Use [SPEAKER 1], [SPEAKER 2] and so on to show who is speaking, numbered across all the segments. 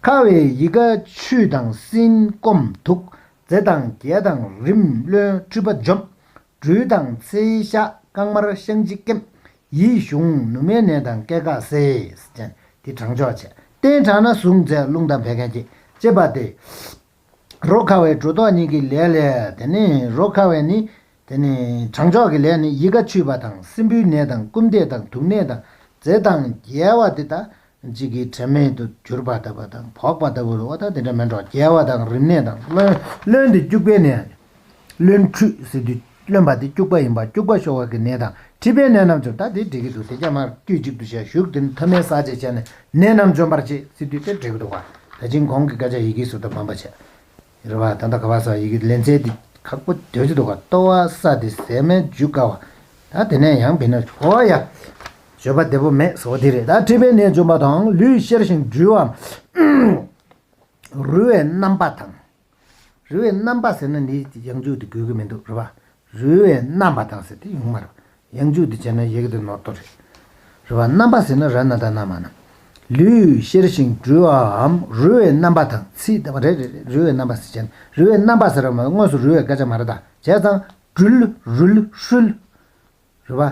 [SPEAKER 1] ཁ་བའི་ཡི་ག་ཆུ་དང་སྲིན་སྐོམ་དུག་རྫས་དང་རྒྱལ་དང་རིམས་བློན་འཁྲུལ་པ་འཇོམས། སྦྲུལ་དང་ཚེ་ཤ་རྐང་དམར་བཤང་གཅི་སྐེམས། ཡིད་གཞུངས་ནུ་མའི་ནད་དང་སྐད་འགགས་སེལ། དེ་གྲང་ཆོག་བྱེད། སྟེང་དྲགས་ན་ཟུག་འཛད་རླུང་དང་བད་ཀན་སྐྱེད། ཅེས་པ་སྟེ། རོ་ཁ་བའི་སྒྲོ་འདོགས་གཉིས་ཀྱི་ལས་ལས། དེ་ནས་རོ་ཁ་བས་ནི། དེ་ནས་བྱང་ཕྱོགས་ཀྱི་ལས་ནི་ཡིད་ཁ་ཆུད་པ་དང་སྲིན་བུའི་ནད་དང་རྐུབ་འདེད་དང་དུག་ནད་དང་རྫས་དང་རྒྱལ་བ་དེ་དག་གཅིག་གིས་དྲི་མེད་དུ་གྱུར་པ་ལྟ་བུ་དང་བོགས་པ་ལྟ་བུར་བ་དང་དེ་འདྲ་མིན་འགྲོ་རྒྱལ་བ་དང་རིམས་ནད་དང་རློན་དུ་སྐྱུགས་པའི་ནད། བློན་ཁྲུས་ཟེར་དུས་བློན་པ་དེ་སྐྱུག་པ་ཡིན་པ་སྐྱུག་པ་ཤོར་བ་གི་ནད་དང་མཁྲིས་པའི་ནད་རྣམས་འཇོམས་ད་དེ་འགྲིག་གི་འདུག་དེ་རྒྱ་དམར་དཀྱུས་གཅིག་ཏུ་བྱས་བཞུགས་དེ་མཐའ་མའི་ཟག་བཅས་བྱས་ནས་ནད་རྣམས་འཇོམས་པར་བྱེད་སྲིད་དུས་དེ་འགྲིག་གི་འདུག་བ་ད་ཅིང་གོང་གི་སྐད་ཆ་ཡི་གེ་ཟུར་དུ་འབམ་པ་བྱས་རེད་བ་ད་ལྟ་ག་བ་སོགས་ཡི་གེ་ལེན་ཚད་དེ་ཁག་པོ་དོད་ཀྱི་འདུག་བ་ལྟོ་བ་ས་དེ་ཟས་སྨན་འཇུ་དཀའ་བ་ད་དེ་ནས་ཡང་བིན་ན་གོ་བ་ཡ། བརྗོད་པ་བདེ་པོ་མེད་ཟེར་བ་དེ་རེད་ད་མཁྲིས་པའི་ནད་འཇོམས་པ་དང་ལུས་གཤེར་ཞིང་འགྲུལ་བའམ་རུལ་བའི་རྣམ་པ་དང། རུལ་བའི་རྣམ་པ་ཟེར་ན་ནི་ཡང་འཇུག་དུ་དགོས་ཀྱི་མི་འདུག་རུལ་བ་རུལ་བའི་རྣམ་པ་དང་ཟེར་ཏེ་ཡོང་མ་རུང། ཡང་འཇུག་དུ་བྱས་ན་ཡི་གེ་དུ་ནོར་དོ་རེད། རུལ་བ་རྣམ་པ་ཟེར་ན་ར་ན་ད་ན་མ་ན། ལུས་གཤེར་ཞིང་འདྲུལ་བའམ་རུལ་བའི་རྣམ་པ་དང་ཚིག་རེ་རེ་རེ་རུལ་བའི་རྣམ་པ་ཟེར་བྱས་ན་རུལ་བའི་རྣམ་པ་ཟེར་བ་མ་གཏོགས་དངོས་སུ་རུལ་བའི་སྐད་ཆ་མ་རེད་ད། བྱས་ཙང། འདྲུལ། རུལ། ཧྲུལ། རུལ་བ།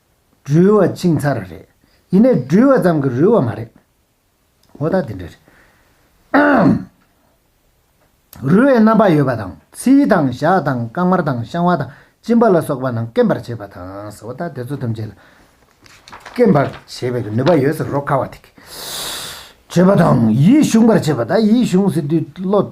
[SPEAKER 1] འགྲུལ་བ་ཅིང་ཚར་རེད། ཡིན་ནའི་འགྲུལ་བ་ཙམ་གྱི་རུལ་བ་མ་རེད། འོ་ད་དེ་འདྲ་རེད། རུལ་བའི་རྣམ་པ་ཡོད་པ་དང་ཚིལ་དང་ཞག་དང་རྐང་དམར་དང་བཤང་བ་དང་གཅིན་པ་ལ་སོགས་པ་རྣམས་སྐེམ་པར་བྱེད་པ་དང། འོ་ད་དེ་ཚོ་ཐམས་ཅད་ལ་སྐེམ་པར་བྱེད་པའི་ནུས་པ་ཡོད་ཟེར་རོ། ཁ་བ་དེ་གས་བྱེད་པ་དང་ཡིད་གཞུངས་པར་བྱེད་པ་ད་ཡིད་གཞུངས་ཟེར་དུས་བློ།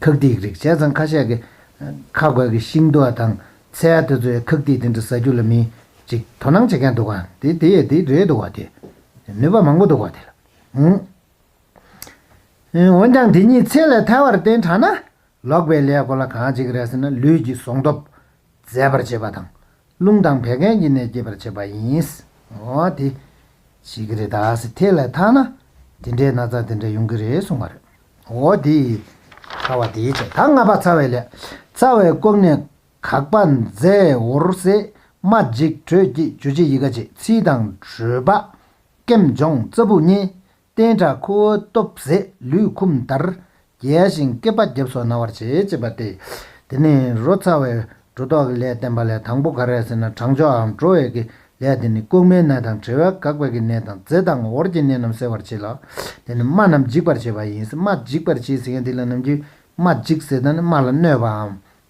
[SPEAKER 1] ཁག་ཐིག་རིགས་བྱས་ཙང་ཁ་ཤས་ཀྱིས་ཁ་རྒོད་ཀྱི་ཤིང་རྡོ་དང་ཚལ་དེ་ཚོའི་ཁག་ཐིག་དེ་འདྲ་ཟ་རྒྱུ་ལ་མི་ཅིག་དོ་སྣང་བྱེད་མཁན་འདུག་ག་དེ་དེ་ཡི་དེ་རེད་འདུག་ག་དེ་ནུས་པ་མང་པོ་འདུག་ག་དེ་ལ་འོན་འོན་ཀྱང་དེ་གཉིས་ཚེ་ལས་ཐལ་བར་བརྟེན་དྲགས་ན་ལོག་པའི་ལས་གོ་ལ་གང་ཅིག་རེད་ཟེར་ན་ལུས་ཀྱི་ཟོང་སྟོབས་ཟད་པར་བྱེད་པ་དང་རླུང་དང་བད་ཀན་གྱི་ནད་སྐྱེད་པར་བྱེད་པ་ཡིན། འོ་དེ། བྱེད་ཀྱི་རེད་ད་སེ་ཐེ་ལས་ཐག་ན། དེ་འདྲའི་ན་ཚ་དེ་འདྲ་ཡོང་གི་རེད་གསུངས་པ་རེད། འོ་དེ། ཚ་བ་དེའི་ཚེ་ད་ང་པ་ཚ་བའི་ལས། ཚ་བའི་སྐོམ་ནད་གག་པ་མཛེ་འོར་སེ་མ་འཇིགས་དྲོད་སྐྱིད་འཇུ་བྱེད་ཡི་ག་བྱེད་ཚིལ་དང་དྲོད་པ། སྐེམ་སྦྱོང་རྩ་སྦུག་གཉིས། བསྟན་དགྲ་ཁུ་བོའི་སྟོབས་ཟད་ལུས་འཁུམས་མཐར། རྒྱལ་ཞིང་བསྐལ་པ་རྒྱབ་སོགས་ན་བར་བྱེད་ཅེས་པ་སྟེ། དེ་ནས་རོ་ཚ་བའི་སྒྲོ་འདོགས་ཀྱི་ལས་བསྟན་པ་ལས་དང་པོ་ག་རེ་ཟེར་ན་གྲང་ཕྱོགས་འགྲོ་བས་ཀྱི་ལས་དེ་ནི་ལྐུགས་མའི་ནད་དང་བྲེལ་བས་འགགས་པས་ཀྱི་ནད་དང་རྫས་དང་འོར་གྱི་ནད་རྣམས་སེལ་བར་བྱེད་ལ། དེ་ནི་རྨ་རྣམས་འཇིག་པར་བྱེད་པ་ཡིན་སྲིད་རྨ་འཇིག་པར་བྱེད་ཟེར་མཁན་དེ་ལ་ནམ་རྒྱུན་རྨ་འཇིག་ཟེར་ད་ནི་རྨ་ལ་གནོད་པའམ་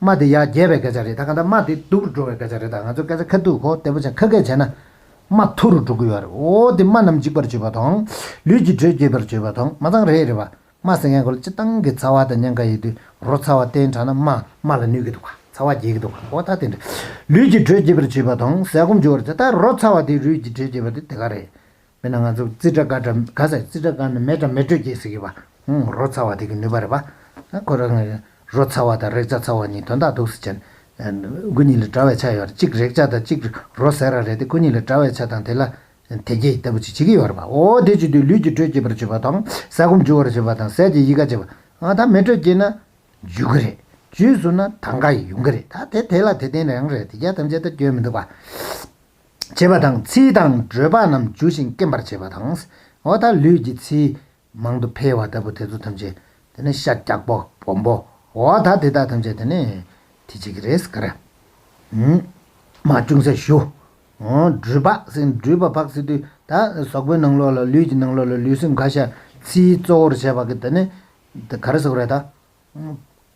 [SPEAKER 1] དམའ་དེ་ཡར་རྒྱས་པའི་སྐད་ཆ་རེད་ད་ག་ད་དམའ་དེ་སྡུག་རུ་འགྲོ་བའི་སྐད་ཆ་རེད་ད་ང་ཚོ་སྐད་ཆ་ཁ་སྡུག་གོ་བདེ་པོ་བྱ་ཁ་སྐད་བྱས་ན། དམའ་མཐོ་རུ་འགྲོ་གི་ཡོད་རེད་འོ་དེ་དམའ་རྣམས་འཇིག་པར་བྱེད་པ་དང། ལུས་ཀྱི་དྲོད་སྐྱེད་པར་བྱེད་པ་དང་མ་ཚང་རེད་རེད་པ། དམའ་ཟེར་མཁན་གོལ་སྤྱི་བཏང་གི་ཚ་བ་དང་ཉེན་ཁ་ཡོད་དུས་རོ་ཚ་བ་བསྟེན་དྲགས་ན་དམའ་དམའ་ལ་ནུས་ཀྱི་འདུག་ག་ཚ་བ་རྒྱས་ཀྱི་འདུག་ག་འོ་ད་དེ་འདྲ། ལུས་ཀྱི་དྲོད་སྐྱེད་པར་བྱེད་པ་དང་ཟས་སྐོམ་འཇུ་བར་བྱེད་ད་རོ་ཚ་བ་དེ་རུས་ཀྱི་དྲོད་སྐྱེད་པ་དེ་དེ་ག་རེད། མེད་ན་ང་ཚོ་ཙི་ཏྲ་ཀ་ཏྲ་ག་ཟེར་ཙི་ཏྲ་ཀ་ནི་མེ་ཏྲ་མེ་དྲོད་ཀྱི་ཟེར་གི་བ། རོ་ཚ་བ་དེ་གི་ནུས་པ་རེད་བ། ཁོ་རང་གི་རོ་ཚ་བ་དང་རེག་བྱ་ཚ་བ་གཉིས་དོན་དག་འདུག་ཟེར་བྱས། སྐུ་ཉིད་ལ་གྲྭ་བའི་ཆ་ཡོད་རེད་གཅིག་རེག་བྱ་དང་གཅིག་རོ་ཟེར་ར་རེད་དེ་སྐུ་ཉིད་ལ་གྲྭ་བའི་ཆ་དང་དེ་ལ་དེ་སྐྱེ་ལྟ་བུ་ཅིག་བྱེད་ཀྱི་ཡོད་རེད་བ། འོ་དེ་བྱེད་དུས་ལུས་ཀྱི་དྲོད་སྐྱེད་པར་བྱེད་པ་དང་ཟས་སྐོམ་འཇུ་བར་བྱེད་པ་དང་ཟས་ཀྱི་ཡི་ག་བྱེད་པ། ད་མེ་དྲོད་སྐྱེས་ན། འཇུ་གི་རེད། འཇུས་སོང་ན་ད་འགའ་ཡི་ཡོང་གི་རེད་ད་དེ་དེ་ལ་དེ་བརྟེན་རང་རེད་དེ་རྒྱ་ཐམས་ཅད་ད་སྐྱོན་མི་འདུག་བ། བྱེད་པ་དང་ཚིལ་དང་སྦྲོས་པ་རྣམས་འཇུ་ཞིང་སྐེམ་པར་བྱེད་པ་དང། འོ་ད་ལུས་ཀྱི་ཚིལ་མང་དུ་འཕེལ་བ་ལྟ་བུ་དེ་ཚོ་ཐམས་ཅད་དེ་ནི་ཤ་རྒྱགས་པོ་སྦོམ་པོ་འོ་ད་དེ་དག་ཐམས་ཅད་དེ་ནི་དེ་བྱེད་ཀྱི་རེད་ཟེར་གི་རེད། མ་ཅུང་ཟད་ཞུ། སྦྲུལ་ཕག་སྲིན་སྦྲུལ་པ་ཕག་སྲིན་དུས་ད་ཟོག་པོའི་ནང་ལོགས་ལ་ལུས་ཀྱི་ནང་ལོགས་ལ་ལུས་སེམས་ག་ཤ་ཚིལ་གཙོ་བོར་བྱས་པ་གི་དེ་ནི་ག་རེ་ཟེར་གི་རེད་ད།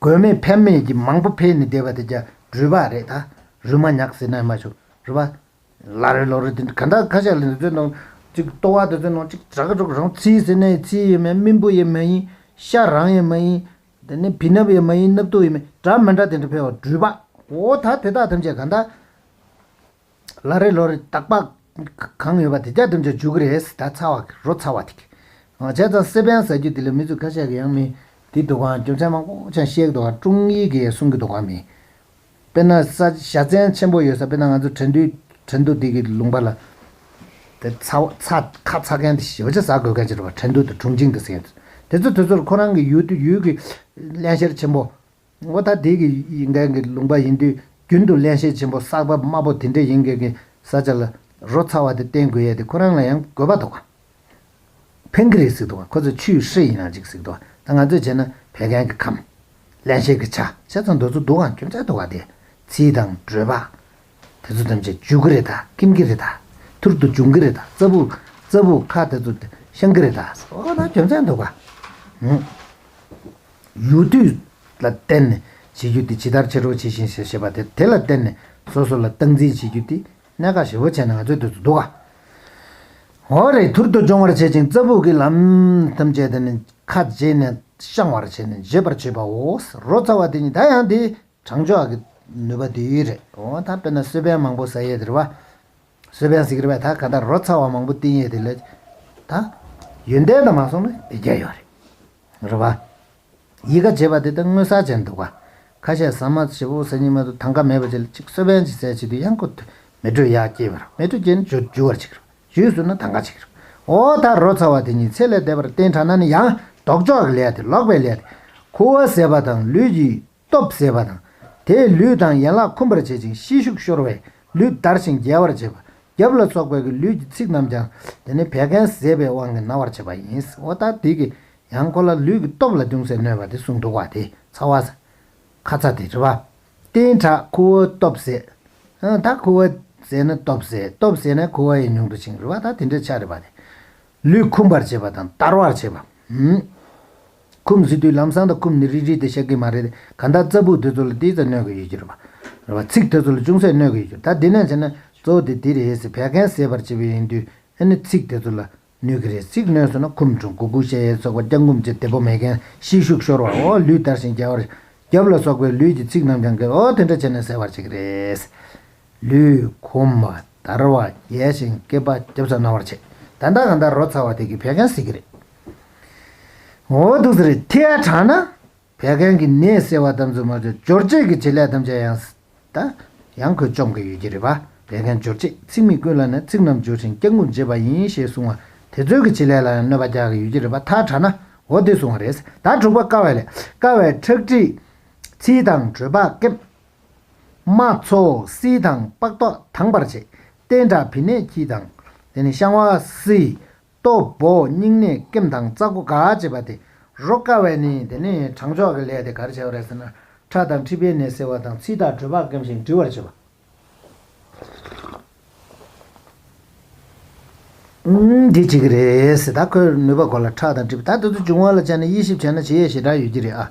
[SPEAKER 1] དགོས་མེད་ཕན་མེད་ཀྱི་མང་པོ་འཕེལ་ནས་བསྡད་པ་དེ་རྒྱ་རུས་པ་རེད་ད། རུས་མ་ཉག་ཟེར་ན་ཡང་མ་བྱུང། རུས་པ། ལ་རོས་ལོ་རོས་དེ་ག་འདྲ་ཁ་ཤས་ལ་འདི་ཚོའི་ནང། གཅིག་ལྟོ་བ་དེ་ཚོའི་ནང་གཅིག་གྲག་གི་འགྲོ་གི་རང་ཚིའི་ཟེར་ན་ཡང་ཚིའི་ཡོད་མ་ཡིན་སྨིན་པོ་ཡོད་མ་ཡིན། ཤ་རང་ཡོད་མ་ཡིན། དེ་ནས་བི་སྣབས་ཡོད་མ་ཡིན་སྣབས་ཐུག་ཡོད་མ་ཡིན་འདྲ་མི་འདྲ་དེ་འདྲ་འཕེལ་བ་རུས་པ། འོ་ད་དེ་དག་ཐམས་ཅད་ག་འདྲ། ལ་རེ་ལོ་རེ་དག་པ་གང་ཡོད་པ་དེ་རྒྱ་གྲིམས་ཆ་འཇུག་གི་རེད་ད་ཚ་བ་རོ་ཚ་བ་ཐིག། བྱས་ཙང་སེ་པན་ཟ་རྒྱུ་དེ་ལས་མི་ཚོས་ཁ་ཤས་ཀྱི་ཡང་མི་དེ་འདུག་གང་རྒྱུ་མཚན་མང་པོ་ཆ་བཤད་འདུག་གང་ཀྲུང་ཡིག་གིས་གསུང་གི་འདུག་གང་མི། དཔེར་ན་ས་བྱ་བཙན་ཆེན་པོ་ཡོད་ས་དཔེར་ན་ང་ཚོ་དྲན་དུས་དྲན་དུ་དེ་གི་ལུང་པ་ལ། དེ་ཚ་བ་ཚ་ཁ་ཚ་མཁན་དེ་ཞི་བ་ཆ་ཟ་དགོས་མཁན་ཆེ་རུ་བ་དྲན་དུས་དུ་དྲུང་ཆིང་དུ་ཟེར། དེ་ཚོ་དེ་ཚོར་ཁོ་རང་གི་ཡུལ་དུ་ཡུལ་གི་བརླན་གཤེར་ཆེན་པོ། ངོ་ཐ་དད་ཀྱི་ཡིག་འགལ་གྱི་ལུང་པ་ཡིན་དུས་རྒྱུན་དུ་གླེན་བཤད་ཆེན་པོ་བསགས་པ་དམའ་པོ་དེ་འདྲས་ཡིན་དགོས་ཀྱི་བཟའ་བཅའ་ལ་རོ་ཚ་བ་དེ་བསྟེན་དགོས་ཡས་དེ་ཁོ་རང་ལ་ཡང་དགོས་པ་འདུག་ཕན་གི་རེད་ཟིག་འདུག་ཁོ་ཚོས་ཆུའི་ཧྲེ་ཡིན་རང་ཅིག་ཟིག་འདུག་ད་ང་ཚོས་བྱས་ན་བད་ཀན་གྱི་ཁམས། གླེན་བཤད་ཀྱི་ཆ་ཤས་ཚོ་འདོད་ཚོ་འདུག་ཨང་ཁྱོད་ཅག་འདུག་ཨ་དེ་ཚིལ་དང་སྒྲོལ་པ། དེ་ཚོ་ཐམས་ཅད་འཇུག་གི་རེད་ད་སྐེམ་གི་རེད་ད་ཐུར་དུ་འབྱུང་གི་རེད་ད་རྩ་བུག་རྩ་བུག་ཁ་དེ་ཚོ་བཤང་གི་རེད་ད་ཟོ་ད་ཁྱོད་ཅག་འདུག་ཨང། ཡུལ་དུས་ལ་བརྟེན་ནས་བྱེད་རྒྱུ་དེ་ཇི་ལྟར་བྱེད་རོགས་བྱེད་བཞིན་ཞེས་བཤད་པ་དེ་དེ་ལ་བརྟེན་ནས་སོ་སོ་ལ་སྟངས་འཛིན་བྱེད་རྒྱུ་དེ་གནད་འགག་ཞེ་བོ་བྱས་ནས་ང་ཚོའི་དུས་སུ་འདུག་ག་འོ་རེ་ཐུར་དུ་རྒྱོང་བར་བྱེད་ཅིང་རྩ་སྦུག་གི་ལམ་ཐམས་ཅད་དུ་ནི་ཁ་འབྱེད་ནས་བཤང་བར་བྱས་ནས་འབྱེད་པར་བྱེད་པའོ། རོ་ཚ་བ་དེ་ཉིད་ད་ཡང་དེའི་དྲང་ཕྱོགས་ཀྱི་ནུས་པ་དེ་ཡོད་རེད་འོ་ད་དཔེར་ན་གསོལ་ཕན་མང་པོ་ཟ་ཡས་དེར་བ། གསོལ་ཕན་ཟིག་རེད་བས་ད་ག་ད་རོ་ཚ་བ་མང་པོ་བསྟེན་ཡས་དེ་ལས། ད། ཡོན་ཏན་དང་མ་སོང་ན་དེ་བརྒྱ་ཡོད་རེད། རེད་བ། ཡི་ག་བྱེད་པ་དེ་ལྟར་སྔོན་ཟག་བྱས་འདུག་བ། ཁ་ཤས་ཟ་མ་བྱེད་པོ་ཟེར་ཉིན་མ་དུ་ཐང་ཀ་མེད་པ་བྱེད་ལ་ཅིག་གསོལ་བན་གྱི་ཟས་བྱེད་དུས་གཡང་ཁུ་དུས་མེ་དྲོད་ཡག་སྐྱེས་པར་མེ་དྲོད་སྐྱེས་ནས་ཇོ་རྒྱུ་བར་བྱེད་ཀྱི་རོ། ཇུས་བཟོས་ན་ཐང་ཀ་བྱེད་ཀྱི་རོ། འོ་ད་རོ་ཚ་བ་དེ་ཉིད་ཚེ་ལས་འདས་པར་བརྟེན་དྲགས་ན་ནི་ཡང་ལྡོག་ཕྱོགས་ཀྱི་ལས་དེ་ལོག་པའི་ལས་དེ། ཁུ་བ་ཟས་པ་དང་ལུས་ཀྱི། སྟོབས་ཟད་པ་དང། དེས་ལུས་དང་ཡན་ལག་འཁུམས་པར་བྱེད་ཅིང་ཤེད་ཤུགས་ཤོར་བས་ལུས་འདར་ཞིང་རྒྱལ་བར་བྱེད་པ། རྒྱབ་ལ་སོགས་པའི་གི་ལུས་ཀྱི་ཚིགས་རྣམས་ཀྱང་དེ་ནི་བད་ཀན་ཟད་པའི་དབང་གིས་ན་བར་བྱེད་པ་ཡིན། ཨོ་ད་དིག་གིས་ཡང་ཁོ་ལ་ལུས་ཀྱི་སྟོབས་ལ་ཅུང་ཟད་གནོད་པ་དེ་གསུངས་འདུག་བ་དེ་ཚ་བ། ཁ་ཚ་དེ་དྲི་བ། རྟེན་དྲག་ཁུ་བོ་སྟོབས་ཟད། ཨང་ད་ཁུ་བོ་ཟད་ན་སྟོབས་ཟད་སྟོབས་ཟད་ན་ཁུ་བ་ཡི་ཉུང་དུ་ཕྱིན་རི་བ་ད་དེ་འདྲའི་ཆ་རི་བ་དེ། ལུས་འཁུམས་པར་བྱེད་པ་དང་འདར་བར་བྱེད་པ། ཁུམ་ཟེར་དུས་ལམ་སང་དང་ཁུམ་ནི་རིགས་རིགས་ཏེ་བཤད་ཀྱི་མ་རེད་དེ། གང་ལྟར་རྩ་སྦུག་དེ་ཚོ་ལ་ཏིའི་ཚད་གནོད་ཀྱི་ཡོད་ཀྱི་རེད་བ། རེད་བ། ཚིག་དེ་ཚོ་ལ་ཅུང་ཟད་གནོད་ཀྱི་ཡོད་ཀྱི་རེད་ད་དེ་ནས་བྱས་ན་གཙོ་བོ་དེ་དེ་རེད་ཟེར་བད་ཀན་སེལ་བར་བྱེད་པའི་ཡིན་དུས་ཨེ་ནི་ཚིག་དེ་ཚོ་ལ་གནོད་ཀྱི་རེད་ཚིག་གནོད་སོང་ན་ཁུམ་འབྲུ་མགོ་དགུ་ཤ་ཡའི་ཚོགས་པ་སྐྱང་ཁུམ་བཅས་དེ་པོ་མེ་ཀན་ཤིས་ཤུགས་ཤོར་བ་འོ་ལུས་དར་ཞིང་རྒྱ་བར། རྒྱབ་ལ་སོགས་པའི་ལུས་ཀྱི་ཚིག་རྣམས་ཀྱང་གི་འོ་དེ་འདྲ་བྱས་ནས་སེལ་བར་བྱེད་ཀྱི་རེད། ལུས། ཁུམ་བ། དར་བ། རྒྱས་ཤིང་སྐེད་པ་རྒྱབ་ཚ་ན་བར་བྱེད། ད་ལྟ་གང་ལྟར་རོ་ཚ་བ་དེ་གི་བད་ཀན་སེལ་གྱི་རེད། ངོ་བོ་ཐུགས་ཟེར་ཐིག་ཨ་དྲག་ན། བད་ཀན་གྱི་ནད་སེལ་བ་ཙམ་ཚོད་མ་ཆོད་སྦྱོར་བྱེད་ཀྱི་བྱེད་ལས་ཐམས་ཅད་ཡང། ཡང་ཁོས་བཅོམ་གི་ཡོད་ཀྱི་རེད་པ་བད་ཀན་སྦྱོར་བྱེད་ཚིག་མི་ཀུན་ལ་ནས་ཚིག་རྣམས་སྦྱོར་ཞིང་སྐྱག་ངུ་འབྱེད་པ་ཡིན་ཞེས་གསུང་བ་དེ་ཚོད་ཀྱི་བྱེད་ལས་ལ་ཡང་གནོད་པ་རྒྱག་གི་ཡོད་ཀྱི་རེད་པ་ཐག་དྲག་ན་འོ་དེ་གསུང་བ་རེད་ད་དྲུག་པ་དཀའ་བའི་ལས་དཀའ་བའི་ཁྲག་ཁྲིག། ཚིལ་དང་དྲོད་ལྤགས་སྐེམ། རྨ་འཚོ་བསིལ་དང་ལྤགས་ཏོག་དྭངས་པར་བྱེད། སྟེང་དྲག་བི་ནས་ཁྱི་དང། དེ་ནི་བཤང་བ་བསིལ། ལྟོ་བོ་སྙིང་ནད་སྐེམ་དང་རྩ་སྒོ་འགག་ཅེས་པ་དེ་རོ་དཀའ་བས་ནི་དེ་ནི་དྲང་ཕྱོགས་ཀྱི་ལས་དེ་གར་བྱེད་པ་རེད་ཟེར་ན་ཁྲག་དང་མཁྲིས་པའི་ནད་སེལ་བ་དང་ཚིལ་དང་དྲོད་ཕག་སྐེམ་ཞིང་འབྲི་བར་བྱེད་པ། འདི་བྱེད་ཀྱི་རེད་ཟེར་ད་ཁོས་ནུས་པ་གོ་ལ་ཁྲག་དང་མཁྲིས་པ་ད་དུས་ཚོད་བྱུང་བ་ལ་བྱས་ནས་དབྱེ་ཞིབ་བྱས་ན་བྱེད་ཡས་ཞེ་དྲག་ཡོད་ཀྱི་རེད་ཨ།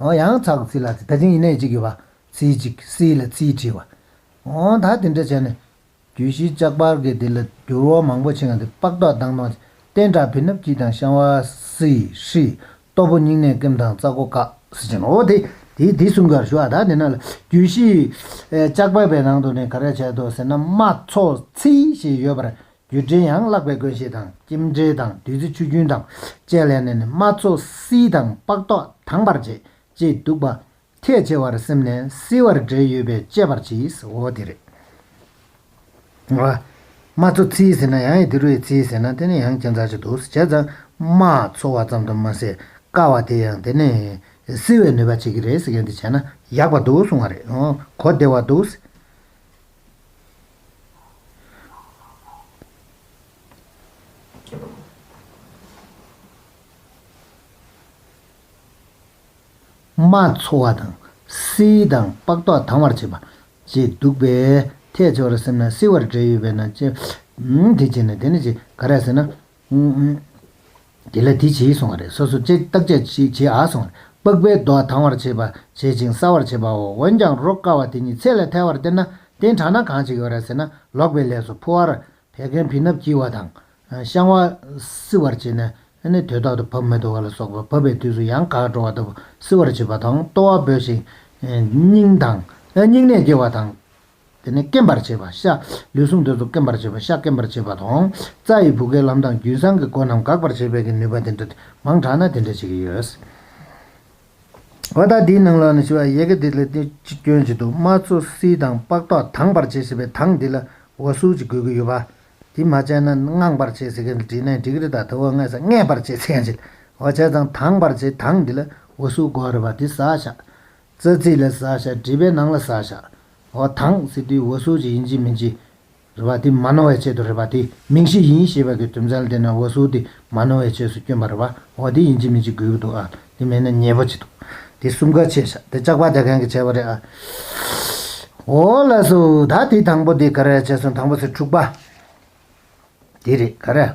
[SPEAKER 1] ཨོ་ཡང་ཚགས་ཚིག་ལ་ཚིག་ད་ཅིང་ཡིན་ནའི་གཅིག་ཡོད་པ། ཚིག་གཅིག་སིའི་ལ་ཚིའི་བྲིས་བ། ཨོ་ད་དེ་འདྲ་བྱས་ནས། རྒྱུད་བཞི་ལྕགས་པར་གྱི་དེ་ལ་འགྱུར་བ་མང་པོ་ཕྱིན་གང་དེ་པགས་མདོག་མདངས་མདོངས། སྟན་དྲག་བིར་ནུབ་སྐྱིད་དང་ཤང་བ། སི། ཧྲི། སྟོབས་པོ་སྙིང་ནད་སྐེམ་དང་རྩ་སྒོ་བཀག། སི་ཅན། ཨོ་དེ། དེ་དེ་གསུམ་གར་ཞུ་ཨ་ད་དེ་ན་ལ། རྒྱུད་བཞི། ལྕགས་པར་བའི་ནང་དུ་ནས་ག་རེ་བྱས་འདུག་ཟེར་ན་སྨྲ་ཚོགས་ཚིག་ཞེས་ཡོད་པར་རྒྱུད་འགྲེལ་ཡང་བཀླག་པའི་དགོན་ཞེས་དང་ཀྱིམ་འགྲེལ་དང་བདུད་རྩི་ཆུ་རྒྱུན་དང་བཅས་ལས་ནས་ནི་མ་ཚོགས་བསིལ་དང་སྤགས་ཏོག་དྭངས་པར་བྱེད་ཅེས་འདུག་པ། ཐེག་ཆེ་བར་སེམས་ནས་བསིལ་བར་འགྲེལ་ཡོད་པས་དཔྱད་པར་གྱིས་འོ་དེ་རེད། མ་ཚོགས་བསིལ་ཟེར་ན་ཡང་ཡི་དེ་རུ་ཡི་བསིལ་ཟེར་ན་དེ་ནི་ཡང་ཁྱད་མཚར་ཅིག་འདུག་བྱས་ཙང་མ་ཚོགས་བ་ཙམ་དུ་མ་ཟད་དཀའ་བ་དེ་ཡང་དེ་ནི་བསིལ་བའི་ནུས་པ་བྱེད་ཀྱི་རེད་ཟེར་མཁན་དེ་བྱས་ན་ཡག་པ་འདུག་གསུང་བ་རེད་གོ་བདེ་བ་འདུག། རྨ་འཚོ་བ་དང། བསིལ་དང་པགས་མདོག་དྭངས་བར་བྱེད་པ། ཅེས་འདུག་པས། ཐལ་ཆེ་བར་སེམས་ན་བསིལ་བར་འབྲས་ཡོད་པས་ན། དེ་བྱས་ནས་དེ་ནི་ཅི། ག་རེ་ཟེར་ན། དེ་ལ་དེ་བྱེད་གསུང་བ་རེད་སོ་སོ་བཅད་བཏགས་བཅད་བྱེད་བྱེད་ཨ་གསུང་བ་རེད་པགས་པའི་རྡོ་བ་དང་བར་བྱེད་པ་བྱེད་ཅིང་སྲ་བར་བྱེད་པའོ་འོན་ཀྱང་རོ་བསྐ་བ་དེ་ཉིད་ཚད་ལས་ཐལ་བར་སྟེར་ན་རྟེན་དྲགས་ན་གང་བྱེད་ཀྱི་བར་ཟེར་ན་ལོག་པའི་ལས་སོ་ཕོ་བར་བད་ཀན་བི་སྣབས་འཁྱིལ་བ་དང། བཤང་བ་བསིལ་བར་བྱེད་ནས་ནི་དོས་ཐོག་ཏུ་བབས་མི་དོ་བ་ལ་སོགས་པ་བབས་པའི་དུས་སུ་ཡང་གག་འགྲོ་བ་ལྟ་བུ་བསིལ་བར་བྱེད་པ་དང་ལྟོ་བ་འབོད་ཅིང་སྙིང་དང། སྙིང་ནད་སྐྱེ་བ་དང། དེ་ནས་སྐེམས་པར་བྱེད་པ་ཤ། ལུས་ཟུངས་འདོད་དོ་སྐེམས་པར་བྱེད་པ་ཤ་སྐེམས་པར་བྱེད་པ་དང། རྩ་ཡི་བུ་གའི་ལམ་དང་རྒྱུན་སྲང་གི་སྒོ་རྣམས་འགག་པར་བྱེད་པའི་ཀྱི་ནུས་པ་དེ་འདྲ་མང་དྲགས་ན་དེ་འདྲ་བྱེད་ཀྱི་ཡོད། བ་དག་དེའི་ནང་ལ་ནི་ཞི་བ་ཡེ་གེ་དེ་ལས་ཏེ་ཅི་སྐྱོན་ཅི་དུ་མ་ཚོ་བསིལ་དང་ལྤགས་ཐོག་དངས་པར་བྱེད་ཞེས་པའི་དངས་དེ་ལ་འོ་སུལ་གྱི་དགོས་ཀྱི་ཡོད། བ་དེ་མ་བྱས་ན་དངངས་པར་བྱེད་ཟེར་གི་དྲིས་ན་འགྲིག་རི་དག་དེ་འོ་སྔས་ས་སྔས་པར་བྱེད་ཚེ་ཡང་བྱེད། བ་བྱས་ཙང་དངས་པར་བྱེད་དངས་དེ་ལ་འོ་སུལ་དགོས་རི་བ་དེ་ཟ་ཤ། རྩ་ཚིག་ལ་བཟའ་བྱ་བྲིས་པའི་ནང་ལ་བཟའ་བྱ་འོ་དང་ཟེར་དུས་འོ་སོགས་ཀྱི་ཡིན་གྱི་མིན་གྱི་རེ་བ་དེ་མ་ནོར་བའི་ཆེད་དུ་རེ་བ་དེ་མིང་གཞི་ཡིན་ཞེས་པ་གི་དོན་ཚན་དེ་ན་འོ་སོགས་དེ་མ་ནོར་བའི་ཆོས་སུ་སྐྱོན་པ་རེ་བ་འོ་དེ་ཡིན་གྱི་མིན་གྱི་དགོས་ཀྱི་འདུག་ཨ་དེ་མེད་ན་ཉེས་པོ་ཅི་འདུག་དེ་གསུམ་ག་ཆད་བྱ་དེ་ལྕགས་པ་དེ་གང་གི་ཆད་པ་རེད་ཨ། འོ་ལ་སོ་ད་དེ་དང་པོ་དེ་ག་རེ་ཆད་སོང་དང་པོ་ཚེ་དྲུག་པ་དེ་རེད་ག་རེ།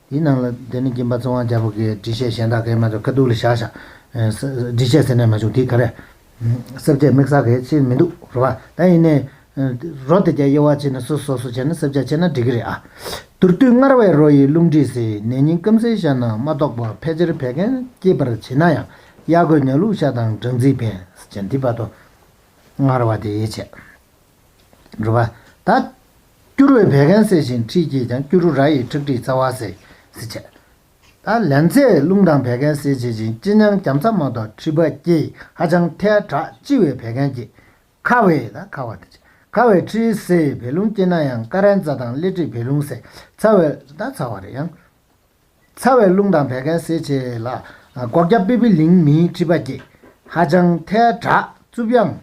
[SPEAKER 1] ཡིན་ནམ། དེ་ནི་སྦྱིན་པ་གཙོ་དབང་རྒྱལ་པོ་གིས་འདྲི་བཤད་གཞན་དག་གིས་མ་གཏོགས་དཀའ་སྡུག་ལ་བཞག། འདྲི་བཤད་ཟེར་ནས་མ་བྱུང་དེ་ག་རེ། སེར་བྱེས་མིག་གསར་གས་ཕྱིར་མི་འདུག་རོ། ད་ཡིན་ནའི། རོ་དེ་རྒྱ་དབྱེ་བ་ཕྱེ་ནས་སོ་སོ་སོ་བྱས་ན་སེར་བྱེས་ཕྱེ་ན་འགྲིག་གི་རེད་ཨ། དུར་བཏུལ་སྔར་བས་རོ་ཡི་རླུང་མཁྲིས་སེ་ནད་སྙིང་སྐམ་སའི་ཤ་ན་མ་གཏོགས་པ་ཕལ་ཆེར་བད་ཀན་སྐྱེད་པར་བྱེད་ན་ཡང་གཡག་རྒོད་ཉག་ལུག་ཤ་དང་སྦྲང་རྩིས་བད་ཀན་འདི་བར་དོ། སྔར་བ་དེ་དབྱེ་བྱས། སྒྲུབ་པ། ད་སྐྱུ་རུའི་བད་ཀན་སེལ་ཞིང་མཁྲིས་སྐྱེད་ཀྱང་སྐྱུ་རུ་ར་ཡི་ཁྲག་མཁྲིས་རྩ་བ་སེལ། བསིལ་བྱེད། ད་ལན་ཚྭས་རླུང་དང་བད་ཀན་སེལ་བྱེད་ཅིང་ལྕི་ཉམས་སྐམ་ཚ་མང་དོག་མཁྲིས་བད་སྐྱེད་ཧ་ཅང་ཐལ། དྲག་ལྕི་བའི་བད་ཀན་སྐྱེད། ཁ་བའི། ད་ཁ་བ། ཁ་བའི་མཁྲིས་སེལ་བད་རླུང་སྐྱེད་ན་ཡང་ཀ་རན་རྩ་དང་སླེ་མཁྲིས་བད་རླུང་སེལ། ཚ་བའི། ད་ཚ་བ་རེད་ཡང། ཚ་བའི་རླུང་དང་བད་ཀན་སེལ་བྱེད་ལ། སྒོག་སྐྱ་པི་པི་ལིང་མིའི་མཁྲིས་བད་སྐྱེད་ཧ་ཅང་ཐལ། དྲག་རྩུབ་དབྱང།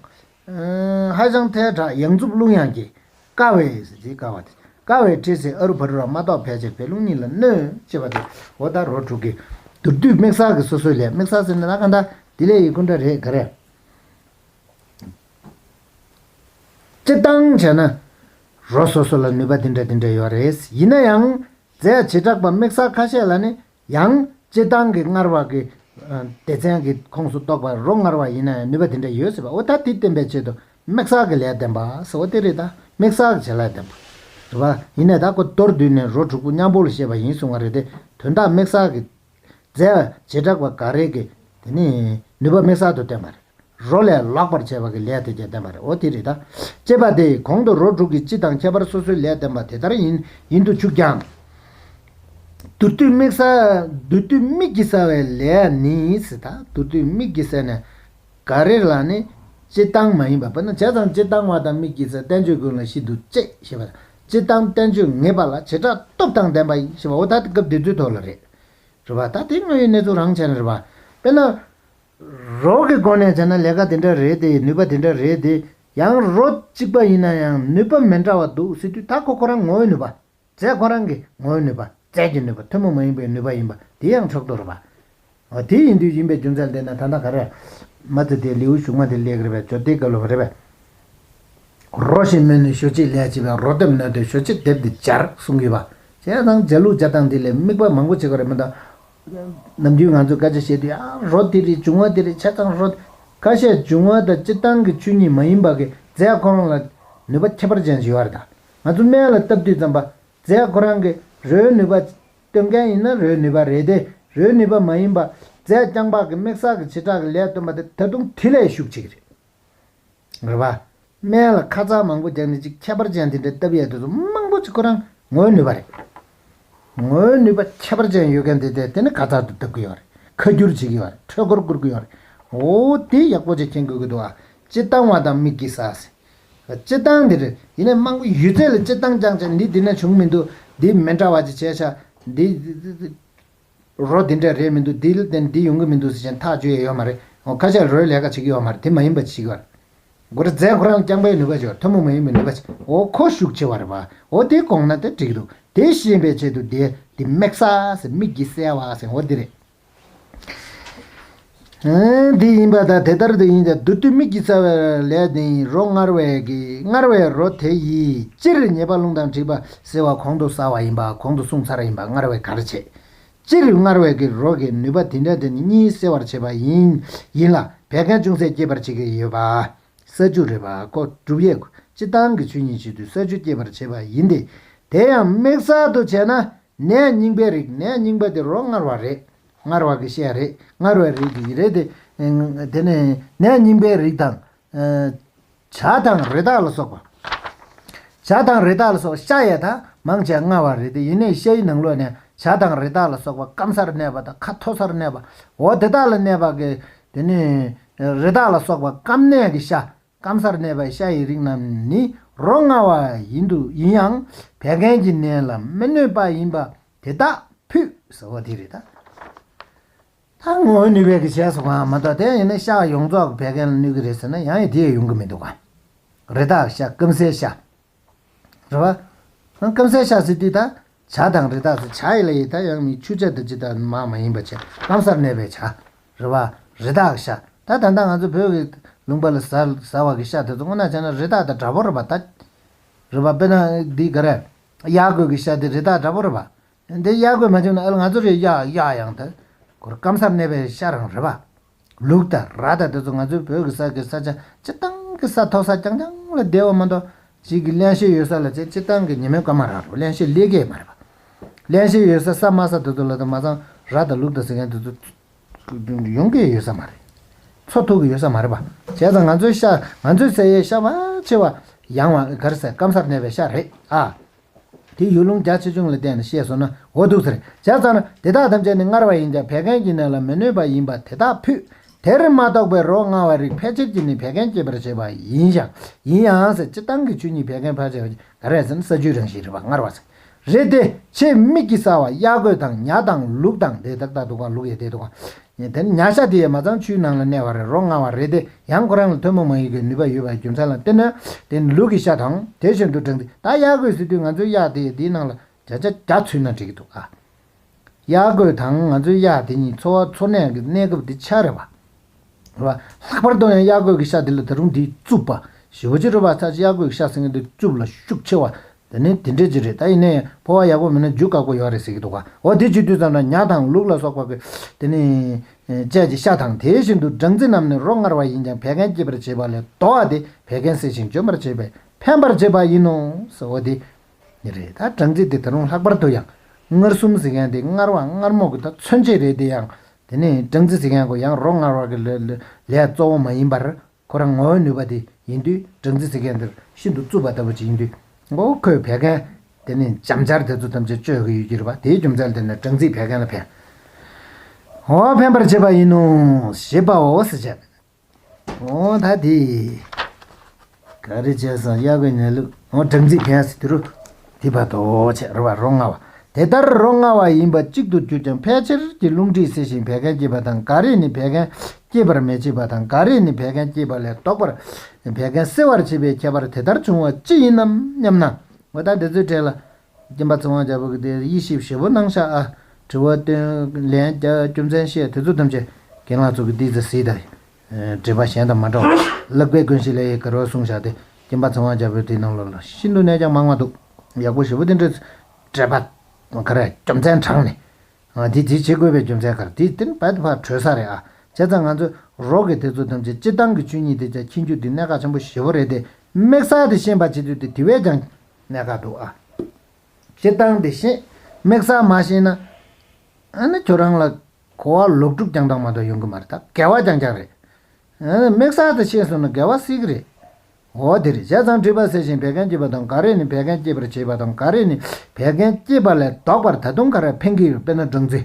[SPEAKER 1] ཧྭ་ཅང་ཐའི་བྲག་གཡང་འཛུགས་རླུང་དབྱངས་ཀྱིས། ཀ་བའི། ཀ་བ་དེ། ཀ་བའི་སྤྲེལ་ཚེས་ཨ་རུ་བྷ་རུ་ར་མ་ཏོག་བད་ཅལ་བད་རླུང་གཉིས་ལ་གནོད། ཅེས་པ་དེ་འོ་ད་རོ་དྲུག་གིས། དུར་བདུད་དམིགས་བསལ་གྱི་སོ་སོའི་ལས་དམིགས་བསལ་ཟེར་ནས་ན་ག་འདྲ། དེ་ལས་ཡི་ཀུན་འདྲ་རེས་འགའ་རེ། སྤྱི་བཏང་བྱས་ན། རོ་སོ་སོ་ལ་ནུས་པ་འདི་འདྲ་འདི་འདྲ་ཡོད་རེད། ཡིན་ན་ཡང། རྫས་བྱེ་བྲག་པ་དམིགས་བསལ་ཁ་ཤས་ལ་ནི་ཡང། སྤྱིར་བཏང་གི་སྔར་བར་གྱི། སྡེ་ཚན་གྱི་ཁོངས་སུ་གཏོགས་པར་རོ་སྔར་བ་ཡིན་ན་ཡང་ནུས་པ་དེ་འདྲ་ཡོད་སྲིད་པ་འོ་ད་དེ་བསྟན་པའི་ཆེད་དུ་དམིགས་བསལ་གྱི་ལས་བསྟན་པ་ཟེར་བ་དེ་རེད་ད་དམིགས་བསལ་གྱི་བྱེད་ལས་བསྟན་པ། རེད་པ། ཡིན་ནས་ད་ཁོ་གཏོར་བསྡུས་ནས་རོ་དྲུག་པོ་མཉམ་པོ་ལ་བཤད་པ་ཡིན་གསུང་བ་རེད་དེ་དོན་དག་དམིགས་བསལ་གྱི། རྫས། བྱེ་བྲག་པ་འགའ་རེ་གྱིས། དེ་ནི། ནུས་པ་དམིགས་བསལ་དུ་བསྟན་པ་རེད། རོ་ལས་ལག་པར་བྱས་པ་གི་ལས་དེ་བརྒྱད་བསྟན་པ་རེད་འོ་དེ་རེད་ད། ཅེས་པ་དེ་གོང་དུ་རོ་དྲུག་གི་སྤྱི་དང་ཁྱད་པར་སོ་སོའི་ལས་བསྟན་པ་དེ་ལྟར་ཡིན་ཡིན་དུ་ཆུག་ཀྱང། དུར་བཏུལ་དམིགས། དུར་བཏུལ་དམིགས་ཀྱིས་བསལ་བའི་ལས་ནི་སྲིད་དང་དུར་བཏུལ་དམིགས་ཀྱིས་བསལ་ནས། ག་རེ་ལ་ནི་སྤྱི་བཏང་མ་ཡིན་པ་བས་ན་བྱས་ཙང་སྤྱི་བཏང་བ་དང་དམིགས་ཀྱིས་བསལ་བསྟན་བཅོས་ཀུན་ལ་ཤིན་ཏུ་གཅེས་ཞེས་པ། སྤྱི་བཏང་བསྟན་བཅོས་ངེས་པ་ལ་བྱེ་བྲག་སྟོབས་དང་ལྡན་པ་ཞེས་པའོ་ད་སྐབས་དེ་ཚོའི་ཐོག་ལ་རེད། རེད་པ་ད་དེ་དངོས་ཡོད་གནས་ཚུལ་རང་བྱས་ན་རེད་པ། དཔེར་ན། རོགས་ཀྱི་སྒོ་ནས་བྱས་ན་ལས་ཀ་དེ་འདྲ་རེད་དེ་ནུས་པ་དེ་འདྲ་རེད་དེ། ཡང་རོ་གཅིག་པ་ཡིན་ན་ཡང་ནུས་པ་མི་འདྲ་བ་འདུག་སྲིད་དུས་མཐའ་འཁོར་ཁོ་རང་ངོ་བོའི་ནུས་པ། རྫས་ཁོ་རང་གི་ངོ་བོའི་ནུས་པ་རྫས་ཀྱི་ནུས་པ་ཐུན་མོང་མ་ཡིན་པའི་ནུས་པ་ཡིན་པ་དེ་ཡང་ཕྱོགས་གཏོགས་རེད་པ། འོ་དེ་ཡིན་དུས་ཡིན་པའི་རྒྱུ་མཚན་དེ་ནི་ད་ལྟ་ག་རེ། མ་ཙི་ཏའི་ལེའུ་གཞུག་མ་དེ་ལེགས་རེད་པས་ཇོ་ཏི་ག་ལོ་བ་རེད་པས། རོ་ཞེས་སྨོས་ནས་ཞོ་ཕྱེད་ལས་བྱས་པའི་རོ་དེབ་ནོས་ཏེ་ཞོ་ཕྱེད་དེབ་འདི་སྦྱར་གསུངས་ཡོད་པ། བྱས་ཙང་རྗེས་ལུས་སྦྱར་སྟངས་དེ་ལས་དམིགས་པ་མང་པོ་བྱེད་དགོས་རེད་མོད། ནམ་རྒྱུན་ང་ཚོས་སྐད་ཆ་བཤད་དུས་ཨང་རོ་དེ་རེད་བྱུང་བ་དེ་རེད་བྱས་ཙང་རོ། ཁ་ཤས་བྱུང་བ་དང་སྤྱི་བཏང་གི་ཆོས་ཉིད་མ་ཡིན་པ་གི་རྫས་ཁོ་རང་ལ་ནུས་པ་ཁྱད་པར་ཅན་ཞིག་ཡོད་རེད་ད། ང་ཚོ་སྨན་ལ་ལྟ་བ་དུས་ཙམ་པ་རྫས་ཁོ་རང་གི་རོའི་ནུས་པ་སྟོན་མཁན་ཡིན་ན་རོའི་ནུས་པ་རེད་དེ་རོའི་ནུས་པ་མ་ཡིན་པ་རྫས་རྐྱང་པགས་ཀྱི་མིག་ཟག་གི་བྱེ་བྲག་གི་ལས་སྟོན་པ་དེ་ད་དུང་དེ་ལས་ཤུགས་ཆེ་གི་རེད། རེད་བ། སྨན་ལ་ཁ་རྩང་མང་པོ་རྒྱག་ནས་ཅིག་ཁྱད་པར་ཅན་དེ་འདྲའི་སྟབས་ཡག་དེ་ཚོ་མང་པོ་ཅིག་ཁོ་རང་ངོས་ནུས་པ་རེད། ངོས་ནུས་པ་ཁྱད་པར་ཅན་ཡོད་མཁན་དེ་དེ་དེ་ནི་ག་ཚར་དུ་བལྟ་གི་ཡོད་རེད་ཁ་སྒྱུར་བྱེད་ཀྱི་ཡོད་རེད་འཕྲོད་སྐོར་བསྐུར་གི་ཡོད་རེད། འོ་དེ་ཡག་པོ་ཅིག་མཁྱེན་དགོས་ཀྱི་འདུག་ཨ། སྤྱི་བཏང་བ་དང་དམིགས་ཀྱི་ཟ་ཟེར། སྤྱི་བཏང་དེ་རེད་ཡིན་ནས་མང་པོ་ཡོད་ཚད་ལ་སྤྱི་བཏང་རྐྱང་བྱས་འདི་དེ་ན་བྱུང་མི་འདུག་འདི་མི་འདྲ་བ་ཅིག་བྱས་ཤག་འདི། རོ་འདི་འདྲ་རེད་མི་འདུག་འདི་ལ་བརྟེན་འདི་ཡོང་གི་མི་འདུག་ཟེར་མཁན་ཐག་གཅོད་ཡས་ཡོད་མ་རེད། ཁ་ཆག་རོའི་ལས་ཀ་བྱེད་ཀྱི་ཡོད་མ་རེད་དེ་མ་ཡིན་པ་བྱེད་ཀྱི་བ་རེད། སྒོ་ར་རྫས་འགོ་རང་རྐྱང་པའི་ནུས་པ་ཆེ་བ་ཐུན་མོང་མ་ཡིན་པའི་ནུས་པ་ཆེ་བའོ་ཁོ་ཤུགས་ཆེ་བ་རེད་བའོ་དེ་གོང་ན་དེ་འགྲིག་འདུག་དེ་ཤེས་པའི་ཆེད་དུ་དེ་དེ་དམིགས་ས་ཟེར་དམིགས་ཀྱི་གསལ་བ་ཟེར་འོ་དེ་རེད། དེ་ཡིན་པ་དང་དེ་ལྟར་དུ་ཡིན་ཀྱང་བདུད་རྟུལ་མིག་གི་རྩ་བའི་ལས་དེ་ཡིན་རོ་སྔར་བའི་རོ་དེ་ཡིས་སྤྱིར་ཉེས་པ་རླུང་དང་འཁྲིག་པ་སེལ་བ་གོང་དུ་ཟ་བ་ཡིན་པ་གོང་དུ་གསུངས་ཚར་ཡིན་པ་སྔར་བས་གར་བྱེད། སྤྱིར་སྔར་བས་ཀྱི་རོ་ཀྱི་ནུས་པ་དེ་འདྲ་དེ་ནི་གཉིས་སེལ་བར་བྱེད་པ་ཡིན་ཡིན་ལ་བད་ཀན་ཅུང་ཟད་སྐྱེད་པར་བྱེད་ཀྱི་ཡོད་པ། ས་ཆུ་རེད་པ་ཀོ་སྒྲུབ་ཡས་ཁུ་སྤྱི་བཏང་གི་ཆུ་གཉིས་བྱེད་དུས་ས་ཆུ་སྐྱེད་པར་བྱེད་པ་ཡིན་ཏེ། དེ་ཡང་དམིགས་བསལ་དུ་བྱས་ན་ནད་རྙིང་པའི་རིགས་ནད་རྙིང་པ་དེ་རོ་སྔར་བ་རེད། སྔར་བ་གི་ཤའི་རིགས་སྔར་བའི་རིགས་ཀྱི་རེད་དེ། དེ་ནས་ནས་རྙིང་པའི་རིགས་དང། བྱ་དང་རི་དྭགས་ལ་སོགས་པ། བྱ་དང་རི་དྭགས་ལ་སོགས་ཤ་ཡས་དག་མང་བྱས་མངའ་བ་རེད་དེ་ཡིན་ནས་ཤའི་ནང་ལོགས་ནས་བྱ་དང་རི་དྭགས་ལ་སོགས་པ་སྐམ་སར་གནས་པ་དང་ཁ་མཐོ་སར་གནས་པའོ་དེ་དག་ལ་གནས་པ་གི། དེ་ནས་རི་དྭགས་ལ་སོགས་པ་སྐམ་གནས་ཀྱི་ཤ་སྐམ་སར་གནས་པའི་ཤ་ཡི་རིགས་རྣམས་ནི་རོ་མངར་བ་ཡིན་དུ་ཡིན་ཡང་བད་ཀན་གྱི་ནད་ལ་མི་གནོད་པ་ཡིན་པ་དེ་དག་ཕུད་ཟེར་བ་དེ་རེད། ད་ངོ་ནུས་བད་ཀྱི་ཞལ་སོགས་གང་ཡང་མ་གཏོགས་དེ་ཡིན་ན་ཤ་ཡོངས་རྫོགས་བད་ཀན་ལ་གནོད་ཀྱི་རེད་ཟེར་ན་ཡང་ཡང་དེ་ཡང་ཡོང་གི་མི་འདུག་ག་རེ་ད་ཤ་སྐམ་སའི་ཤ་རེད་བ། སྐམ་སའི་ཤ་བསྲེས་དུས་དང། བྱ་དང་རི་དྭགས་སུ་བྱ་ཡི་ལ་ཡི་དང་ཡང་མིའི་ཆུ་བྱ་དང་ཅི་དང་མ་མ་ཡིན་པ་བྱས་སྐམ་སར་གནས་པའི་བྱ། རེད་བ། རི་དྭགས་ཤ་ད་ད་ལྟ་ང་ཚོ་བོད་ཀྱི་ལུང་པ་ལ་ཟ་བ་གི་ཤ་དེ་ཚོ་སྔོ་ནག་ཆགས་ན་རི་དྭགས་དང་འདྲ་པོ་རེད་བ་ད། རེད་བ། དཔེར་ན་འདི་ག་རེད། གཡག་རྒོད་ཀྱི་ཤ་དེ་རི་དྭགས་འདྲ་པོ་རེད་བ། འདི་གཡག་རྒོད་མ་བྱུང་ན་ཨེ་ལ་ང་ཚོ་རེད་གཡག་གཡག་ཡང་དེ་གོར་སྐམ་སར་གནས་པའི་ཤ་རང་རེད་པ། ལུག་དང་ར་དང་དེ་ཚོ་ང་ཚོའི་བོད་ཀྱི་ས་དགེ་ས་ཆ་སྤྱི་བཏང་གི་ས་ཐོག་ས་རྐྱང་རྐྱང་ལ་བསྡད་བ་མ་གཏོགས་གཅིག་གི་གླན་ཤེད་ཡོད་ས་ལ་ཆེ་སྤྱི་བཏང་གི་ཉི་མའི་སྐར་མ་རང་རེད་པ་གླན་ཤེད་ལེགས་སྐྱེས་མ་རེད་པ། གླན་ཤེད་ཡོད་ས་ས་དམའ་ས་དེ་ཚོ་ལ་དང་མ་ཚང་ར་དང་ལུག་དང་ཟེར་མཁན་དེ་ཚོ་ཡོང་གི་ཡོད་ས་མ་རེད། འཚོ་ཐུབ་ཀྱི་ཡོད་ས་མ་རེད་པ། བྱས་ཙང་ང་ཚོའི་ཤ་ང་ཚོའི་ས་ཡའི་ཤ་བ་ཆེ་བ་ཡང་བ་གར་སེ་སྐམ་སར་གནས་པའི་ཤ་རེད་ཨ། དེ་ཡུལ་ལུང་རྒྱ་ཆེ་ཆུང་ལ་བརྟེན་ནས་ཤེས་སོ་ན་འོ་འདུག་ཟེར། བྱས་ཙང་ན་དེ་དག་ཐམས་ཅད་ནི་མངར་བ་ཡིན་ཀྱང་བད་ཀན་གྱི་ནད་ལ་མི་གནོད་པ་ཡིན་པ་དེ་དག་ཕུད། དེར་མ་གཏོགས་པའི་རོ་མངར་བ་རིགས་ཕལ་ཆེར་གྱིས་ནི་བད་ཀན་སྐྱེད་པར་བྱེད་པ་ཡིན་ཞིང། ཡིན་ཡང་ཟེར་སྤྱིར་བཏང་གི་ཆོས་ཉིད་བད་ཀན་ཕལ་ཆེ་བ་གྱིས་ག་རེ་ཟེར་ན་ས་ཆུའི་རང་བཞིན་རིག་པ་མངར་བ་ཟེར། རེད་དེ། ཆེས་དམིགས་ཀྱིས་བསལ་བ་གཡག་རྒོད་དང་ཉག་དང་ལུག་དང་དེ་ལྟར་ད་དུ་གང་ལུག་ཡ་དེ་དུ་གང། ནས་དེ་ནི་ཉག་ཤ་དེ་ཡོད་མ་གཙང་ཆུའི་ནང་ལ་གནས་བར་རོ་མངར་བ་རེད་དེ་ཡང་ཁོ་རང་ལ་ཐུན་མོང་མ་ཡིན་གྱི་ནུས་པ་ཡོད་པའི་རྒྱུ་མཚན་ལ་བརྟེན་ནས་དེ་ནི་ལུག་གི་ཤ་དང་དེ་བཞིན་དུ་བསྒྲིགས་འདུག་ད་གཡག་རྒོད་ཟེར་དུས་ང་ཚོའི་གཡག་དེ་ཡིས་དེའི་ནང་ལ་བྱ་བྱ་བྱ་ཚུད་ན་འགྲིག་གི་འདུག་ཨ། གཡག་རྒོད་དང་ང་ཚོའི་གཡག་དེ་གཉིས་འཚོ་བ་འཚོ་གནས་ཀྱི་གནས་སྐབས་དེ་ཆགས་རེད་བ། ལྷག་པར་དུ་ཡང་གཡག་རྒོད་ཀྱི་ཤ་དེ་ལ་ད་རུང་དེའི་རྩུབ་པ་ཞེ་བོ་ཅི་རུ་བ་ཚ་གཡག་རྒོད་ཀྱི་ཤ་ཟེར་མཁན་དེ་རྩུབ་ལ་ཤུགས་ཆེ་བ་དེ་ནི་དེ་འདྲས་ཅིག་རེད་ད་ཡིན་ནའི་ཕོ་བ་ཡག་པོ་མིན་ན་རྒྱུ་དཀག་པོ་ཡོད་རེད་ཟེར་གྱི་འདུག་ག་འོ་དེ་བྱེད་དུས་ཙམ་ན་ཉྭ་དང་ལུག་ལ་སོགས་པ་པོ་དེ་ནི། དཔྱད་ཀྱི་ཤ་དང་དེ་བཞིན་དུ་སྦྲང་རྩི་རྣམས་ནི་རོ་མངར་བ་ཡིན་ཀྱང་བད་ཀན་སྐྱེད་པར་བྱེད་པ་ལས་དོ་བ་དེ་བད་ཀན་སེལ་ཞིང་འཇོམས་པར་བྱེད་པས་ཕན་པར་བྱེད་པ་ཡིན་ནོ། འོ་དེ་ནི་རེད་ད་སྦྲང་རྩི་དེ་དེ་རུང་ལྷག་པར་དུ་ཡང་མངར་གསུམ་ཟེར་མཁན་དེ་མངར་བ་མངར་མོ་གི་ད་མཚོན་བྱེད་རེད་དེ་ཡང་དེ་ནི་སྦྲང་རྩི་ཟེར་མཁན་གོ་ཡང་རོ་མངར་བ་གི་ལས་གཙོ་བོ་མ་ཡིན་པར་ཁོ་རང་ངོ་བོའི་ནུས་པ་དེ་ཡིན་དུས་སྦྲང་རྩི་ཟེར་མཁན་འདིར་ཤིན་ཏུ་རྩུབ་པ་ལྟ་བུ་ཅིག་ཡིན་དུས། ངོ་བོ་ཁོས་བད་ཀན། དེ་ནི་འཇམ་ཆར་དེ་ཚོ་ཐམས་ཅད་གཅོད་གི་ཡོད་ཀྱི་རེད་པ་དེའི་རྒྱུ་མཚན་དེ་ནི་སྦྲང་རྩིས་བད་ཀན་ལ་ཕན། ངོ་བོ་ཕན་པར་བྱེད་པ་ཡིན་ནོ། ཞེས་པའོ་ཟེར་བྱས། ངོ་བོ་ད་དེས། ག་རེ་བྱས་སམ་གཡག་གི་ཉལ་ལུགས་ངོ་སྦྲང་རྩིས་ཕན་ཟེར་དུས་རུ། དེ་བར་དུ་ཕྱི་རུ་བ་རོ་མངའ་བ། དེ་ལྟར་རོ་མངའ་བ་ཡིན་པ་གཅིག་ཏུ་གྱུར་ཀྱང་ཕལ་ཆེར་གྱི་རླུང་མཁྲིས་སེལ་ཞིང་བད་ཀན་བསྐྱེད་པ་དང་འགའ་རེས་ནི་བད་ཀན་སྐྱེད་པར་མི་བྱེད་པ་དང་འགའ་རེས་ནི་བད་ཀན་སྐྱེད་པ་ལས་ལྡོག་པར་བད་ཀན་སེལ་བར་བྱེད་པའི་ཁྱད་པར་དེ་ལྟར་བྱུང་བ་ཅི་ཡིན་ནམ་སྙམ་ན། འོ་ད་འདི་ཚོའི་གྲས་ལ། སྐྱེམས་པ་ཚོང་བ་རྒྱལ་པོ་གི་དེ་དབྱེ་ཞིབ་ཞེ་པོ་གནང་ཤག་ཨ། དྲི་བ། སྟོན་ལན། རྒྱ། རྒྱུ་མཚན་བཤད་དེ་ཚོ་ཐམས་ཅད། རྒན་ལགས་ཚོ་གི་དེ་ཚོ་གཟིགས་དང། འགྲེལ་པ་གཞན་དང་མ་འདྲ་བར་བཀླགས་པས་ཀུན་གཞི་ལས་ཡི་གེར་བ་གསུངས་བཞག་སྟེ་སྐྱེམས་པ་ཚང་བ་བརྒྱ་པོའི་དེའི་ནང་ལོགས་ལ་ཤིན་ཏུ་གནད་ཀྱང་མང་བ་འདུག་ཡག་པོ་ཞེ་པོ་དེ་འདྲ་འགྲེལ་པ་འགར་རྒྱུ་མཚན་དྲངས་ནས། འདི་འདི་བྱེད་དགོས་པའི་རྒྱུ་མཚན་འགར་འདི་དེ་བད་བར་གྲོལ་ས་རེད་ཨ་བྱས་ཙང་ང་ཚོས་རོགས་ཀྱི་དེ་ཚོ་ཐམས་ཅད་སྤྱིར་བཏང་གི་ཆོས་ཉིད་དེ་ཅག་མཁྱེན་རྒྱུ་འདི་གནད་འགག་ཆེན་པོ་ཞེ་བོ་རེད་དེ་དམིགས་བསལ་དེ་ཤེས་པ་བྱེད་རྒྱུ་དེ་དེ་བས་ཀྱང་གནད་འགག་འདུག་ཨ། སྤྱིར་བཏང་དེ་ཤེས་དམིགས་བསལ་མ་ཤེས་ན། ཨ་ནི་ཁྱོད་རང་ལ། གོ་བ་ལོག་སྒྲུབ་རྐྱང་རྐྱང་མ་གཏོགས་ཡོང་གི་མ་རེད་ད་འགལ་བ་རྐྱང་རྐྱང་རེད། དམིགས་བསལ་དུ་བཤད་སོང་ན་འགལ་བ་བསིལ་གི་རེད། འོ་དེ་རེད་བྱས་ཙང་དྲི་བ་ཟེར་ཞིང་བད་ཀན་སྐྱེད་པ་དང་འགའ་རེ་ནི་བད་ཀན་སྐྱེད་པར་བྱེད་པ་དང་འགའ་རེ་ནི་བད་ཀན་སྐྱེད་པ་ལས་ལྡོག་པར་ད་དུང་ག་རེ་ཕན་གི་ཡོད་དཔེར་ན་སྦྲང་རྩི།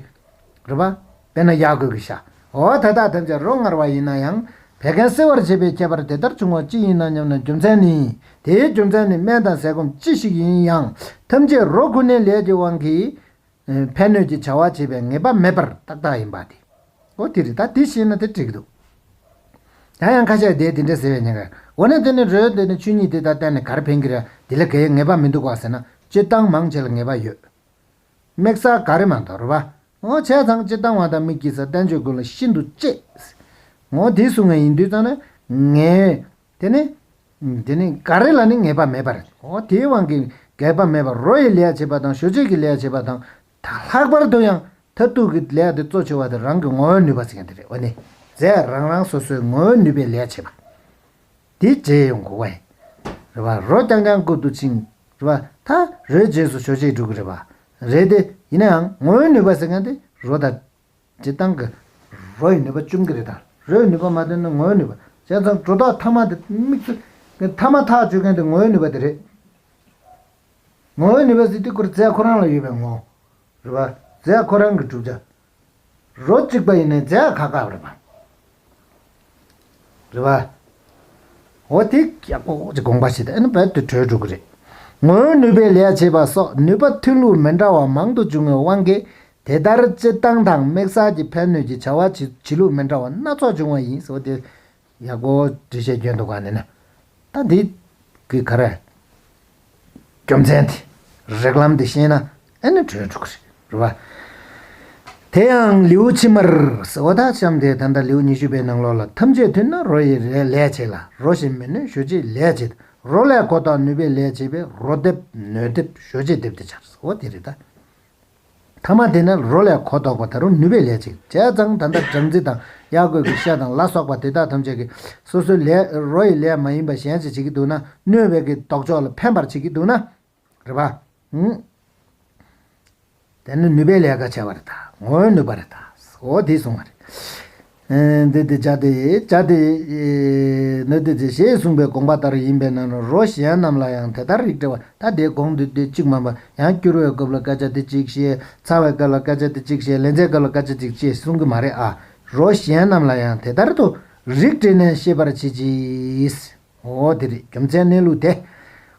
[SPEAKER 1] རེད་པ། དཔེར་ན་ཡག་གོས་ཀྱི་ཤ། འོ་དེ་དག་ཐམས་ཅད་རོ་མངར་བ་ཡིན་ན་ཡང་བད་ཀན་སེལ་བར་བྱེད་པའི་ཁྱད་པར་དེ་ལྟར་བྱུང་བ་ཅི་ཡིན་ན་སྙམ་ན་རྒྱུ་མཚན་ནི། དེའི་རྒྱུ་མཚན་ནི་སྨན་དང་ཟས་སྐོམ་ཅི་ཞིག་ཡིན་ཡང་ཐམས་ཅད་རོ་ཁུ་ནི་ལས་ཀྱི་དབང་གིས། ཕན་གནོད་ཀྱི་བྱ་བ་བྱེད་པའི་ངེས་པ་མེད་པར་ཏག་ཏག་ཡིན་པ་དེ། ཨོ་དེ་རེད་ད་དེ་ཤེས་ན་དེ་འགྲིག་འདུག། ཡང་ཡང་ཁ་ཤས་དེ་དེ་འདྲ་ཟེར་བའི་ཉེན་ཁ། འོ་ན་དེ་ནི་རོའི་དེ་ནི་ཆོས་ཉིད་དེ་དང་གཏན་ནས་གར་ཕན་གི་ར་དེ་ལ་གའི་ངེས་པ་མི་འདུག་བ་ཟེར་ན་སྤྱིར་བཏང་མང་ཆེ་ལ་ངེས་པ་ཡོད། དམིགས་ས་ག་རེ་མ་མདོ་རུ་བ། ངོ་བྱས་ཙང་སྤྱིར་བཏང་བ་དང་མི་སྐྱིད་ས་བསྟན་བཅོས་ཀུན་ལ་ཤིན་ཏུ་གཅེས། ངོ་དེ་བཟུང་བའི་ཡིན་དུས་ཙང་ན་ངའི་དེ་ནི། དེ་ནི་འགའ་རེ་ལ་ནི་ངེས་པ་མེད་པར་འོ་དེའི་དབང་གིས་འགལ་པ་མེད་པར་རོ་ཡི་ལས་བྱེད་པ་དང་ཞོ་ཆེད་ཀྱི་ལས་བྱེད་པ་དང། ལྷག་པར་དུ་ཡང་མཐར་ཐུག་གི་ལས་དེ་གཙོ་ཆེ་བ་དེ་རང་གི་ངོ་བོའི་ནུས་པ་ཅན་དེ་རེད་འོ་ནི། ཟས་རང་རང་སོ་སོའི་ངོ་བོའི་ནུས་པའི་ལས་བྱེད་པ། དེའི་རྗེས་ཡོང་གི་བ་ཡིན། རེད་པ། རོ་རྐྱང་རྐྱང་བསྐུར་དུ་ཕྱིན། རེད་པ། ད་རོའི་རྗེས་སུ་ཞོ་ཆེད་འགྲོ་གི་རེད་པ། རེད་དེ། ཡིན་ནའང་ངོ་བོའི་ནུས་པ་ཟེར་མཁན་དེ་རོ་དང། འབྲི་སྟངས་ཀྱི། རོ་ཡི་ནུས་པ་བཅུམ་གྱི་རེ་དང། རོའི་ནུས་པ་མ་བཏོན་ན་ངོ་བོའི་ནུས་པ། བྱས་ཙང་སྒྲོ་བཏགས་ཐ་མ་དེ་དམིགས་སུ། ཐ་མ་ཐག་གཅོད་མཁན་དེ་ངོ་བོའི་ནུས་པ་དེ་རེད། ངོ་བོའི་ནུས་པ་ཟེར་དུས་སྐུར་རྫས་ཁོ་རང་ལ་ཡོད་པའི་ངོ། རེད་པ། རྫས་ཁོ་རང་གིས་གྲུབ་བྱ། རོ་གཅིག་པ་ཡིན་ན་རྫས་ཁ་ཁ་རེད་པ། རེད་པ། འོ་དེ་ཀྱང་ཀོག་ཀོག་ཅིག་དགོངས་པ་ཞིག་དང་ཨེ་ནི་བད་དུ་གྲོལ་འགྲོ་གི་རེད། ངོ་བོའི་ནུས་པས་ལས་བྱེད་པ་སོགས་ནུས་པ་ཐོན་ལུགས་མི་འདྲ་བ་མང་དུ་འབྱུང་བའི་དབང་གིས་དེ་ལྟར་སྤྱིར་བཏང་དང་དམིགས་བསལ་གྱི་ཕན་གནོད་ཀྱི་བྱ་བ་བྱེད་ལུགས་མི་འདྲ་བ་སྣ་ཚོགས་འབྱུང་བ་ཡིན། འོ་དེ་ཡག་པོ་འབྲི་བྱའི་སྐྱོན་དུ་གང་ནི་ན། ད་འདི་གི་ག་རེ། རྒྱུ་མཚན་དེ་རེག་ལམ་དེ་ཤེས་ན་ཨེ་ནི་གྲོལ་འགྲོ་གི་རེད། རེད་བ། དེ་ཡང་ལེའུ་ཕྱི་མར་ཟེ་བ་དག་བཤམས་ཏེ་ད་ལྟ་ལེའུ་ཉི་ཤུ་པའི་ནང་ལོགས་ལ་ཐམས་ཅད་མཐུན་ན་རོ་ཡི་ལས་བྱེད་ལ་རོ་ཞེས་མི་ནུས་ཞོ་བྱེད་ལས་བྱེད་དེ་རོ་ལས་གོ་བརྟགས་ནུས་པའི་ལས་བྱེད་པས་རོ་འདེབས་ནུས་འདེབས་ཞོ་བྱེད་འདེབས་དེ་བྱར་ཟེ་བ་དེ་རེད་ད། ཐ་མ་དེ་ནི་རོ་ལས་གོ་ལྡོག་པ་དེ་རུ་ནུས་པའི་ལས་ཅན། བྱས་ཙང་ད་ལྟར་སྦྲང་རྩི་དང་གཡག་རྒོད་ཀྱི་ཤ་དང་ལ་སོགས་པ་དེ་དག་ཐམས་ཅད་ཀྱིས་སོ་སོའི་ལས། རོ་ཡི་ལས་མ་ཡིན་པ་གཞན་ཅི་བྱེད་ཀྱི་འདུག་ན་གནོད་བྱེད་ཀྱི་ལྡོག་ཕྱོགས་ལ་ཕན་པར་བྱེད་ཀྱི་འདུག་ན། རེ་བ། དེ་ནི་ནུས་པའི་ལས་ཀ་བྱས་པ་རེ་དྭོགས་ནུས་པ་རེ་དྭོགས་དེས་བཟུང་བ་རེ། འདི་དེ་བྱ་དེ་བྱ་དེ། ནི་དེ་དེ་ཞེས་གསུངས་པའི་དགོངས་པ་ལྟར་ཡིན་པས་ན་རོ་གཞན་རྣམས་ལ་ཡང་དེ་ལྟར་རིགས་བྲལ་བ་ཐ་དད་དགོངས་འདུས་ཏེ་གཅིག་མ་འབབ་ཡང་བསྐྱུར་བའི་སྐབས་ལ་སྐད་ཆ་དེ་གཅིག་བཤད་ཚར་བའི་སྐབས་ལ་སྐད་ཆ་དེ་གཅིག་བཤད་ལན་ཚྭའི་སྐབས་ལ་སྐད་ཆ་གཅིག་ཅེས་གསུང་གི་མ་རེད་ཨ། རོ་གཞན་རྣམས་ལ་ཡང་དེ་ལྟར་དུ་རིགས་བྲལ་ནས་ཤེས་པར་བྱེད་ཀྱིས། ངོ་བོ་དེ་རེད་རྒྱུ་མཚན་གནས་ལུགས་དེ།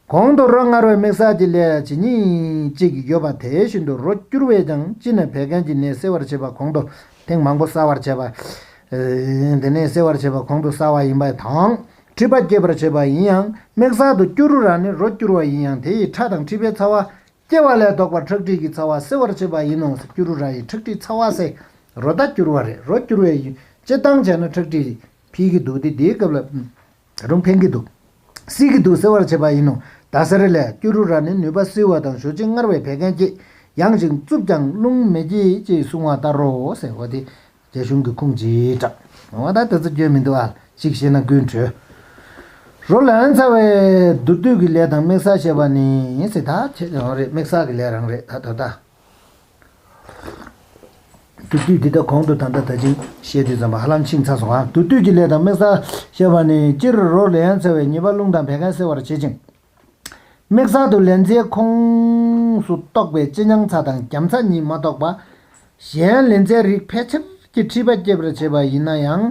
[SPEAKER 1] གོང་དུ་རོ་མངར་བའི་མིག་གསར་གྱི་ལས་ཇི་སྙེད་ཅིག་ཡོད་པ་དེ་བཞིན་དུ་རོ་སྐྱུར་བས་ཀྱང་གཅིན་ནས་བད་ཀན་གྱི་ནད་སེལ་བར་བྱེད་པ་གོང་དུ་ཐེངས་མང་པོ་གསལ་བར་བྱས་པ། དེ་ནད་སེལ་བར་བྱེད་པ་གོང་དུ་གསལ་བ་ཡིན་པ་དང་མཁྲིས་པ་སྐྱེད་པར་བྱེད་པ་ཡིན་ཡང་མིག་གསར་དུ་སྐྱུ་རུ་ར་ནི་རོ་སྐྱུར་བ་ཡིན་ཡང་དེ་ཡི་ཁྲག་དང་མཁྲིས་པའི་ཚ་བ་སྐྱེ་བ་ལས་བཟློག་པར་ཁྲག་ཁྲིག་གི་ཚ་བ་སེལ་བར་བྱེད་པ་ཡིན་ནོ་སྐྱུ་རུ་ར་ཡིས་ཁྲག་ཁྲིག་ཚ་བ་སེལ་རོ་ད་སྐྱུར་བ་རེད་རོ་སྐྱུར་བའི་ཡུན་སྤྱི་བཏང་བྱས་ན་ཁྲག་ཁྲིག་འཕེལ་གྱི་འདུག་དེ་དེའི་སྐབས་ལ་རུང་འཕེལ་གྱི་འདུག་སེལ་གྱི་འདུག་སེལ་བར་བྱེད་པ་ཡིན་ནོ་ད་སེར་ལས་སྐྱུ་རུ་ར་ནི་ནུས་པ་བསིལ་བ་དང་ཞོ་ཆེན་མངར་བས་བད་ཀན་བསྐྱེད་ཡང་ཞིང་རྩུབ་ཀྱང་རླུང་མི་བསྐྱེད་ཅེས་གསུང་བ་ལྟར་རོ། རྒྱ་གཞུང་གི་ཁུངས་ཇི་དྲག་འོང་བ་དག་ད་ཚ་སྐྱོན་མི་འདུག་ཨ་གཅིག་ཤེས་ན་ཀུན་གྲོལ། རོ་ལངས་ཚར་བས། བསྡུར་དུས་ཀྱི་ལས་དང་དམིགས་བསལ་ཞེས་པ་ནི་ཡིན་སྲིད་ད་ཁྱེད་ཀྱི་རང་རེད་དམིགས་བསལ་གྱི་ལས་རང་རེད་ད་ད་ལྟ། བསྡུར་དུས་འདི་ལྟ་གོང་དུ་ད་ལྟ་ད་ཅིང་བཤད་དུས་ཙམ་པ་ཧ་ལམ་ཕྱིན་ཚར་སོང་ཨ་བསྡུར་དུས་ཀྱི་ལས་དང་དམིགས་བསལ་ཞེས་པ་ནི་སྤྱིར་རོ་ལངས་ཚར་བས་ཉེས་པ་རླུང་དང་བད་ཀན་སེལ་བར་བྱེད་ཅིང། དམིགས་བསལ་དུ་ལན་ཚྭའི་ཁོངས་སུ་གཏོགས་པའི་ལྕེ་མྱང་ཚྭ་དང་རྒྱམ་ཚྭ་གཉིས་མ་གཏོགས་པ། གཞན་ལན་ཚྭའི་རིགས་ཕལ་ཆེར་གྱི་མཁྲིས་པ་སྐྱེད་པར་བྱེད་པ་ཡིན་ན་ཡང་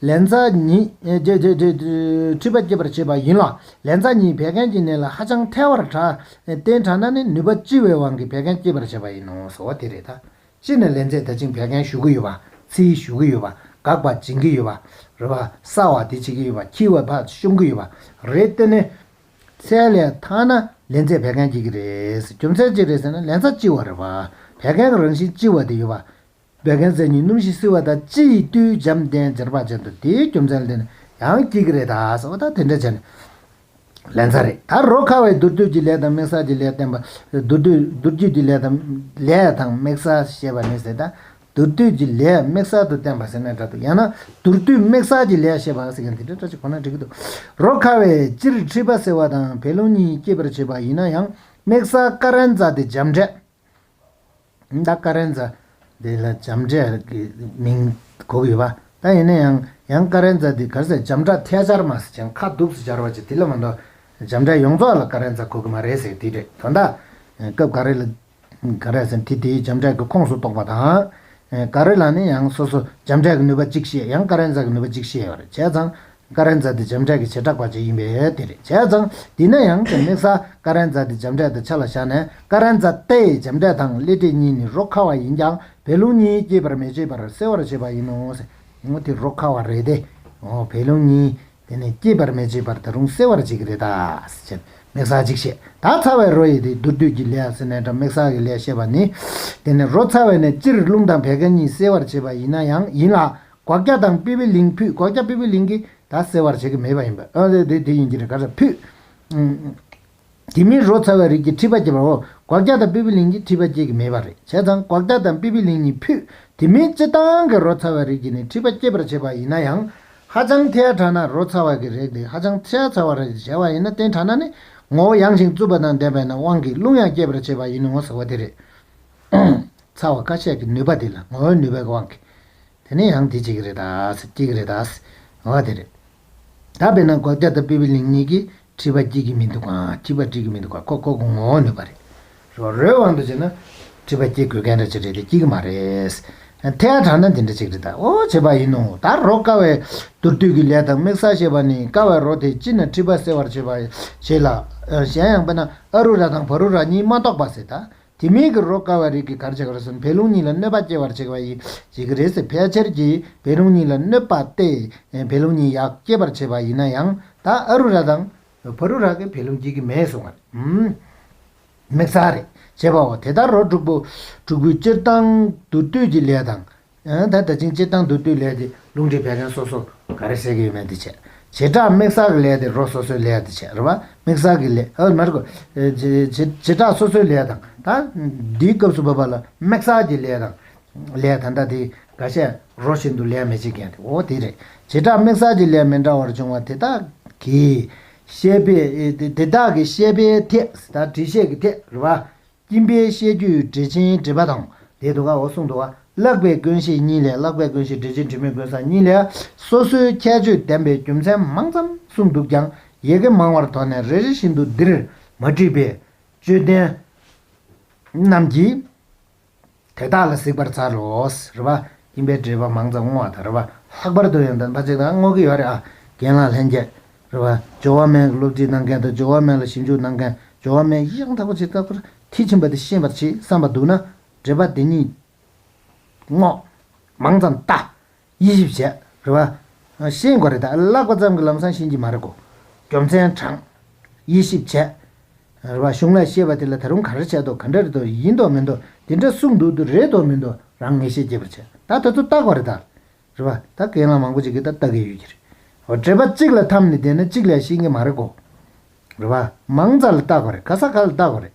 [SPEAKER 1] ལན་ཚྭ་ཉིད་མཁྲིས་པ་སྐྱེད་པར་བྱེད་པ་ཡིན་ལ་ལན་ཚྭ་ཉིད་བད་ཀན་གྱི་ནད་ལ་ཧ་ཅང་ཐལ་བར་གྲགས། བསྟེན་དྲགས་ན་ནི་ནུས་པ་ལྕི་བའི་དབང་གིས་བད་ཀན་སྐྱེད་པར་བྱེད་པ་ཡིན་ནོ་ཟེར་བ་དེ་རེད་ད། སྤྱིར་ནས་ལན་ཚད་ད་ཅིང་བད་ཀན་ཞུ་གི་ཡོད་པ་ཚི་ཡི་ཞུ་གི་ཡོད་པ་འགག་པ་སྦྱིན་གི་ཡོད་པ་རེད་པ་ས་བ་དེ་བྱེད་ཀྱི་ཡོད་པ་ཁྱི་བའི་ཕག་ཤོམ་གི་ཡོད་པ་རེད་བལྟས་ནས། ཚད་ལས་ཐ་ན་ལན་ཚད་བད་ཀན་སྐྱེད་ཀྱི་རེད་རྒྱུ་མཚན་ཅི་རེད་ཟེར་ན་ལན་ཚ་ལྕི་བ་རེད་བད་ཀན་གྱི་རང་བཞིན་ལྕི་བ་དེ་ཡོད་པ། བད་ཀན་ཟས་ཉིད་སྣུམ་ཞིག་བསིལ་བ་དང་ལྕི་ཡི་བཏུས་འཇམ་བསྟེན་སྦྱར་བ་བྱས་འདུག་དེའི་རྒྱུ་མཚན་ལས་ན་ཡང་སྐྱེད་ཀྱི་རེད་ད་ཟེར་བ་དང་དེ་འདྲ་བྱས་ནས། ལན་ཚྭ་རེད། ད་རོ་ཁ་བའི་དུར་རྒྱུད་ཀྱི་ལས་དང་མིག་གསར་གྱི་ལས་བསྟན་པ། དུར་རྒྱུད་ཀྱི་ལས་དང། ལས་དང་མིག་གསར་ཞེས་པ་ནི་ཟེར། དུར་རྒྱུད་ཀྱི་ལས་མིག་གསར་དུ་བསྟན་པ་ཟེར་ན་འདྲ་འདུག་ཡང་ན་དུར་རྒྱུད་མིག་གསར་གྱི་ལས་ཞེས་པ་ཟེར་མཁན་དེ་འདྲ་འདྲ་ཅིག་གོ་ན་འགྲིག་གི་འདུག་རོ་ཁ་བས་སྤྱིར་མཁྲིས་པ་སེལ་བ་དང་བད་རླུང་གཉིས་སྐྱེད་པར་བྱེད་པ་ཡིན་ན་ཡང་མིག་གསར་ཀ་རན་ཙཱ་དེ་འཇམ་འབྲས། ད་ཀ་རན་ཛ་དེ་ལ་བྱམས་ཁྲས་ཀྱི་མིང་གོ་གི་བ་ད་ཡིན་ན་ཡང་ཡང་ཀ་རན་ཛ་དེ་གར་ཟེར་བྱམས་ཁྲ་ཐལ་སྦྱར་མ་ཟེར་ཅིང་ཁ་གདུབ་སུ་སྦྱར་བ་ཅི་དེ་ལ་མ་འདོག་བྱམས་ཁྲ་ཡོངས་རྫོགས་ལ་ཀ་རན་ཛ་གོ་གི་མ་རེད་ཟེར་དེ་རེད་དོ་ད་སྐབས་ག་རེ་ལ་ཀ་རན་ཟེར་དེ་དེའི་བྱམས་ཁྲས་ཀྱི་ཁོངས་སུ་གཏོགས་པ་དང། ག་རེ་ལ་ནི་ཡང་སོ་སོ་བྱམས་ཁྲས་ཀྱི་ནུས་པ་གཅིག་ཤེས་ཡང་ཀ་རན་ཛ་གི་ནུས་པ་གཅིག་ཤེས་བར་བྱས་ཙང་ཀ་རན་ཛ་དེ་འཇམ་དྲལ་གྱི་བྱེ་བྲག་པ་གཅིག་ཡིན་པས་དེ་རེད་བྱས་ཙང་དེས་ན་ཡང་དེ་དམིགས་ས་ཀ་རན་ཛ་དེ་འཇམ་དྲལ་དུ་ཆ་ལ་བཞག་ནས་ཀ་རན་ཛ་ཏའི་འཇམ་དྲལ་དང་གླེ་སྤྲེལ་གཉིས་ནི་རོ་ཁ་བ་ཡིན་ཀྱང་བད་རླུང་གཉིས་སྐྱེད་པར་མི་བྱེད་པར་སེལ་བར་བྱེད་པ་ཡིན་ནོ། དེ་རོ་ཁ་བ་རེད་དེ། བད་རླུང་གཉིས་དེ་ནི་སྐྱེད་པར་མི་བྱེད་པར་ད་རུང་སེལ་བར་བྱེད་ཀྱི་རེད་ད། ཅེས་དམིགས་ས་གཅིག་བཤད། ད་ཚ་བའི་རོ་ཡི་དེ་མདོར་བསྡུས་ཀྱི་ལས་ཟེར་ནས་དྲ་མིག་ས་གི་ལས་བཤད་པ་ནི། དེ་ནི་རོ་ཚ་བའི་ནས་སྤྱིར་རླུང་དང་བད་ཀ་གཉིས་སེལ་བར་བྱེད་པ་ཡིན་ན་ཡང་ཡིན་ལ་སྒོག་སྐྱ་དང་པི་པི་ལིང་ཕུད་སྒོག་སྐྱ་པི་པི་ལིང་གིས་ད་སེལ་བར་བྱེད་ཀྱི་མེད་པ་ཡིན་པས་ཨ་དེ་དེ་ཡིན་གྱི་རེད་ག་རེ་ཕུད། དེ་མིན་རོ་ཚ་བའི་རིགས་ཀྱིས་མཁྲིས་པ་སྐྱེད་པའོ་སྒོག་སྐྱ་དང་པི་པི་ལིང་གིས་མཁྲིས་པ་སྐྱེད་ཀྱི་མེད་པ་རེད་བྱས་ཙང་སྒོག་སྐྱ་དང་པི་པི་ལིང་གཉིས་ཕུད་དེ་མིན་སྤྱི་བཏང་གི་རོ་ཚ་བའི་རིགས་ཀྱིས་ནི་མཁྲིས་པ་སྐྱེད་པར་བྱེད་པ་ཡིན་ན་ཡང་ཧ་ཅང་ཐེ་ཧ་དྲགས་ན་རོ་ཚ་བ་གི་རེག་དེ་ཧ་ཅང་ཐེ་ཧ་ཚ་བ་རེག་ཅེས་བྱ་བ་ཡིན་ན་རྟེན་དྲགས་ན་ནི་ངོ་བོ་ཡང་ཞིང་རྩུབ་པ་དང་ལྡན་པས་ན་དབང་གིས་རླུང་ཡང་སྐྱེད་པར་བྱེད་པ་ཡིན་ནོ་ཟེར་བ་དེ་རེད། ཚ་བ་ཀ་ཤས་ཀྱི་ནུས་པ་དེ་ལ་ངོ་བོའི་ནུས་པའི་དབང་གིས། དེ་ནི་ཡང་དེ་གཅིག་གི་རེད་ད་གཅིག་གི་རེད་ད་ང་བ་དེ་རེད། ད་དཔེར་ན་སྒོག་སྐྱ་དང་པི་པི་ལིང་གཉིས་ཀྱིས་བྲིས་པ་བྲིས་ཀྱི་མི་འདུག་གམ་བྲིས་པ་བྲིས་ཀྱི་མི་འདུག་ག་ཁོ་ཁོ་གོ་ངོ་བོ་ནུས་པ་རེད། རོ་རོའི་དབང་དུ་བྱས་ན། བྲིས་པ་བསྐྱེད་དགོས་མཁན་འདྲ་གཅིག་རེད་དེ་བསྐྱེད་ཀྱི་མ་རེད། ཐལ་དྲགས་ན་དེ་འདྲ་གཅིག་རེད་ད་ཨོ་བྱེད་པ་ཡིན་ནོ་ད་རོ་དཀའ་བའི་མདོར་བསྡུས་ཀྱི་ལས་དང་དམིགས་བསལ་ཤེས་པ་ནི་དཀའ་བའི་རོ་དེ་སྤྱིར་ན་བྲིས་པ་སེལ་བར་བྱེད་པ་བྱེད་ལ། གཞན་ཡང་དཔེར་ན་ཨ་རུ་ར་དང་བ་རུ་ར་གཉིས་མ་གཏོགས་པ་ཟེར་ད་དེ་མིན་གྱི་རོ་བསྐལ་བ་རིགས་ཀྱི་གར་བྱེད་གར་སོན་བད་རླུང་གཉིས་ལ་གནོད་པ་སྐྱེ་བར་བྱེད་པ་ཡིན་བྱེད་ཀྱི་རེད་ཟེར་ཕལ་ཆེར་གྱིས་བད་རླུང་གཉིས་ལ་གནོད་པ་སྟེ། བད་རླུང་གཉིས་ཡག་སྐྱེ་བར་བྱེད་པ་ཡིན་ན་ཡང་ད་ཨ་རུ་ར་དང། བྷ་རུ་ར་གིས་བད་རླུང་སྐྱེ་གི་མེད་གསུངས་བ་རེད། མིག་ཚ་རེད་བྱེད་པའོ་དེ་ལྟར་རོ་དྲུག་པོ། དྲུག་པོའི་སྤྱིར་བཏང་དུ་སྟོད་ཀྱི་ལས་དང། ད་ལྟ་ཕྱིན་ཅི་བཏང་དུ་བཏུས་ལས་ཏེ་ལུང་འདྲེན་བད་ཀན་སོ་སོར་ག་རེ་ཟས་ཀྱི་ཡོད་མེད་འདི་བྱེད། བྱེ་བྲག་དམིགས་བསལ་གྱི་ལས་ཏེ་རོ་སོ་སོའི་ལས་འདི་བྱེད་རེད་པ་དམིགས་བསལ་གྱི་ལས། ཨོ་མ་རེད་ཀོ། བྱེ་བྲག་སོ་སོའི་ལས་དང། ད་འདིའི་སྐབས་སུ་བབས་པ་ལ་དམིགས་བསལ་གྱི་ལས་དང། ལས་ད་ལྟ་དེ་འགའ་ཤས་རོ་བཞིན་དུ་ལས་མི་བྱེད་མཁན་དེ་འོ་དེ་རེད། བྱེ་བྲག་དམིགས་བསལ་གྱི་ལས་མི་འདྲ་བར་འབྱུང་བ་དེ་དག་གིས། ཤེས་པས། དེ་དག་གིས་ཤེས་པའི་ཐད་དེ་དག་དྲི་ཤེས་ཀྱི་ཐད་རེད་པ། སྐྱིན་པའི་བཤད་རྒྱུད་འགྲེལ་ཆེན་འགྲེལ་པ་དང། དེའི་དུ་ཁའོ་གསུང་དུ། བཀླག་པའི་དཀོན་ཤེས་གཉིས་ལས་བཀླག་པའི་དཀོན་ཤེས་འགྲེལ་ཆེན་དྲི་མེད་ཀུན་བཟང་གཉིས་ལས། སོ་སོའི་ཁྱད་ཆོས་ལྡན་པའི་རྒྱུ་མཚན་མང་ཙམ་གསུངས་འདུག་ཀྱང་ཡེ་གེ་མང་བར་དོགས་ནས་རེ་རེ་བཞིན་དུ་འདིར་མ་བྲིས་པས། དཔྱོད་ལྡན་རྣམས་ཀྱིས། དེ་དག་ལ་གཟིགས་པར་བྱ་རོགས། རེ་བ། ཡིན་པའི་འདྲེས་པ་མང་ཙམ་བསྔོ་བ་དང་རེ་བ། ལྷག་པར་དུ་ཡང་དམ་པ་ཅིག་དང་བསྔོ་གི་ཡོད་རེད་ཨ། རྒན་ལགས་ལྷན་རྒྱས། རེ་བ། ཇོ་བོ་མན་གྱི་སློབ་ཁྲིད་གནང་མཁན་དང་ཇོ་བོ་མན་ལ་ཞིབ་འཇུག་གནང་མཁན་ཇོ་བོ་མན་གཡག་མཐའ་བོ་ཆེ་བཀག་པར་མཐིལ་ཕྱིན་པ་དེ་ཤེས་པར་གྱིས་བསམ་པ་འདུག་ན། འདྲེས་པ་དེ་གཉིས། བསྔོ། མང་ཙམ་བལྟ། དབྱེ་ཞིབ་བྱས། རེད་བ། ཤེས་དགོས་རེད་ད་བཀླགས་པ་ཙམ་གྱི་ལམ་སང་ཤེས་ཀྱི་མ་རེད་གོ། རྒྱུ་མཚན་དྲངས། དབྱེ་ཞིབ་བྱས། རེད་བ་གཞུང་ལ་ཤེས་པ་དེ་ལ་ད་རུང་ག་རེ་བྱས་འདུག་ག་འདྲ་རེད་དོ་ཡིན་དོ་མིན་དོ་དེ་འདྲ་གསུངས་འདུག་དུ་རེད་དོ་མིན་དོ་རང་ངེས་ཤེས་སྐྱེས་པར་བྱས་ད་དེ་ཚོ་བལྟ་དགོས་རེད་ད། རེད་བ་ད་གན་ལ་མང་པོ་ཅིག་གིས་ད་བལྟ་གི་ཡོད་ཀྱི་རེད། འགྲེལ་པ་གཅིག་ལ་འཐམ་ནས་བསྡད་ན་གཅིག་ལས་ཤེས་ཀྱི་མ་རེད་གོ། རེད་བ། མང་ཙམ་ལ་བལྟ་དགོས་རེད་ག་ས་ག་ལ་བལྟ་དགོས་རེད།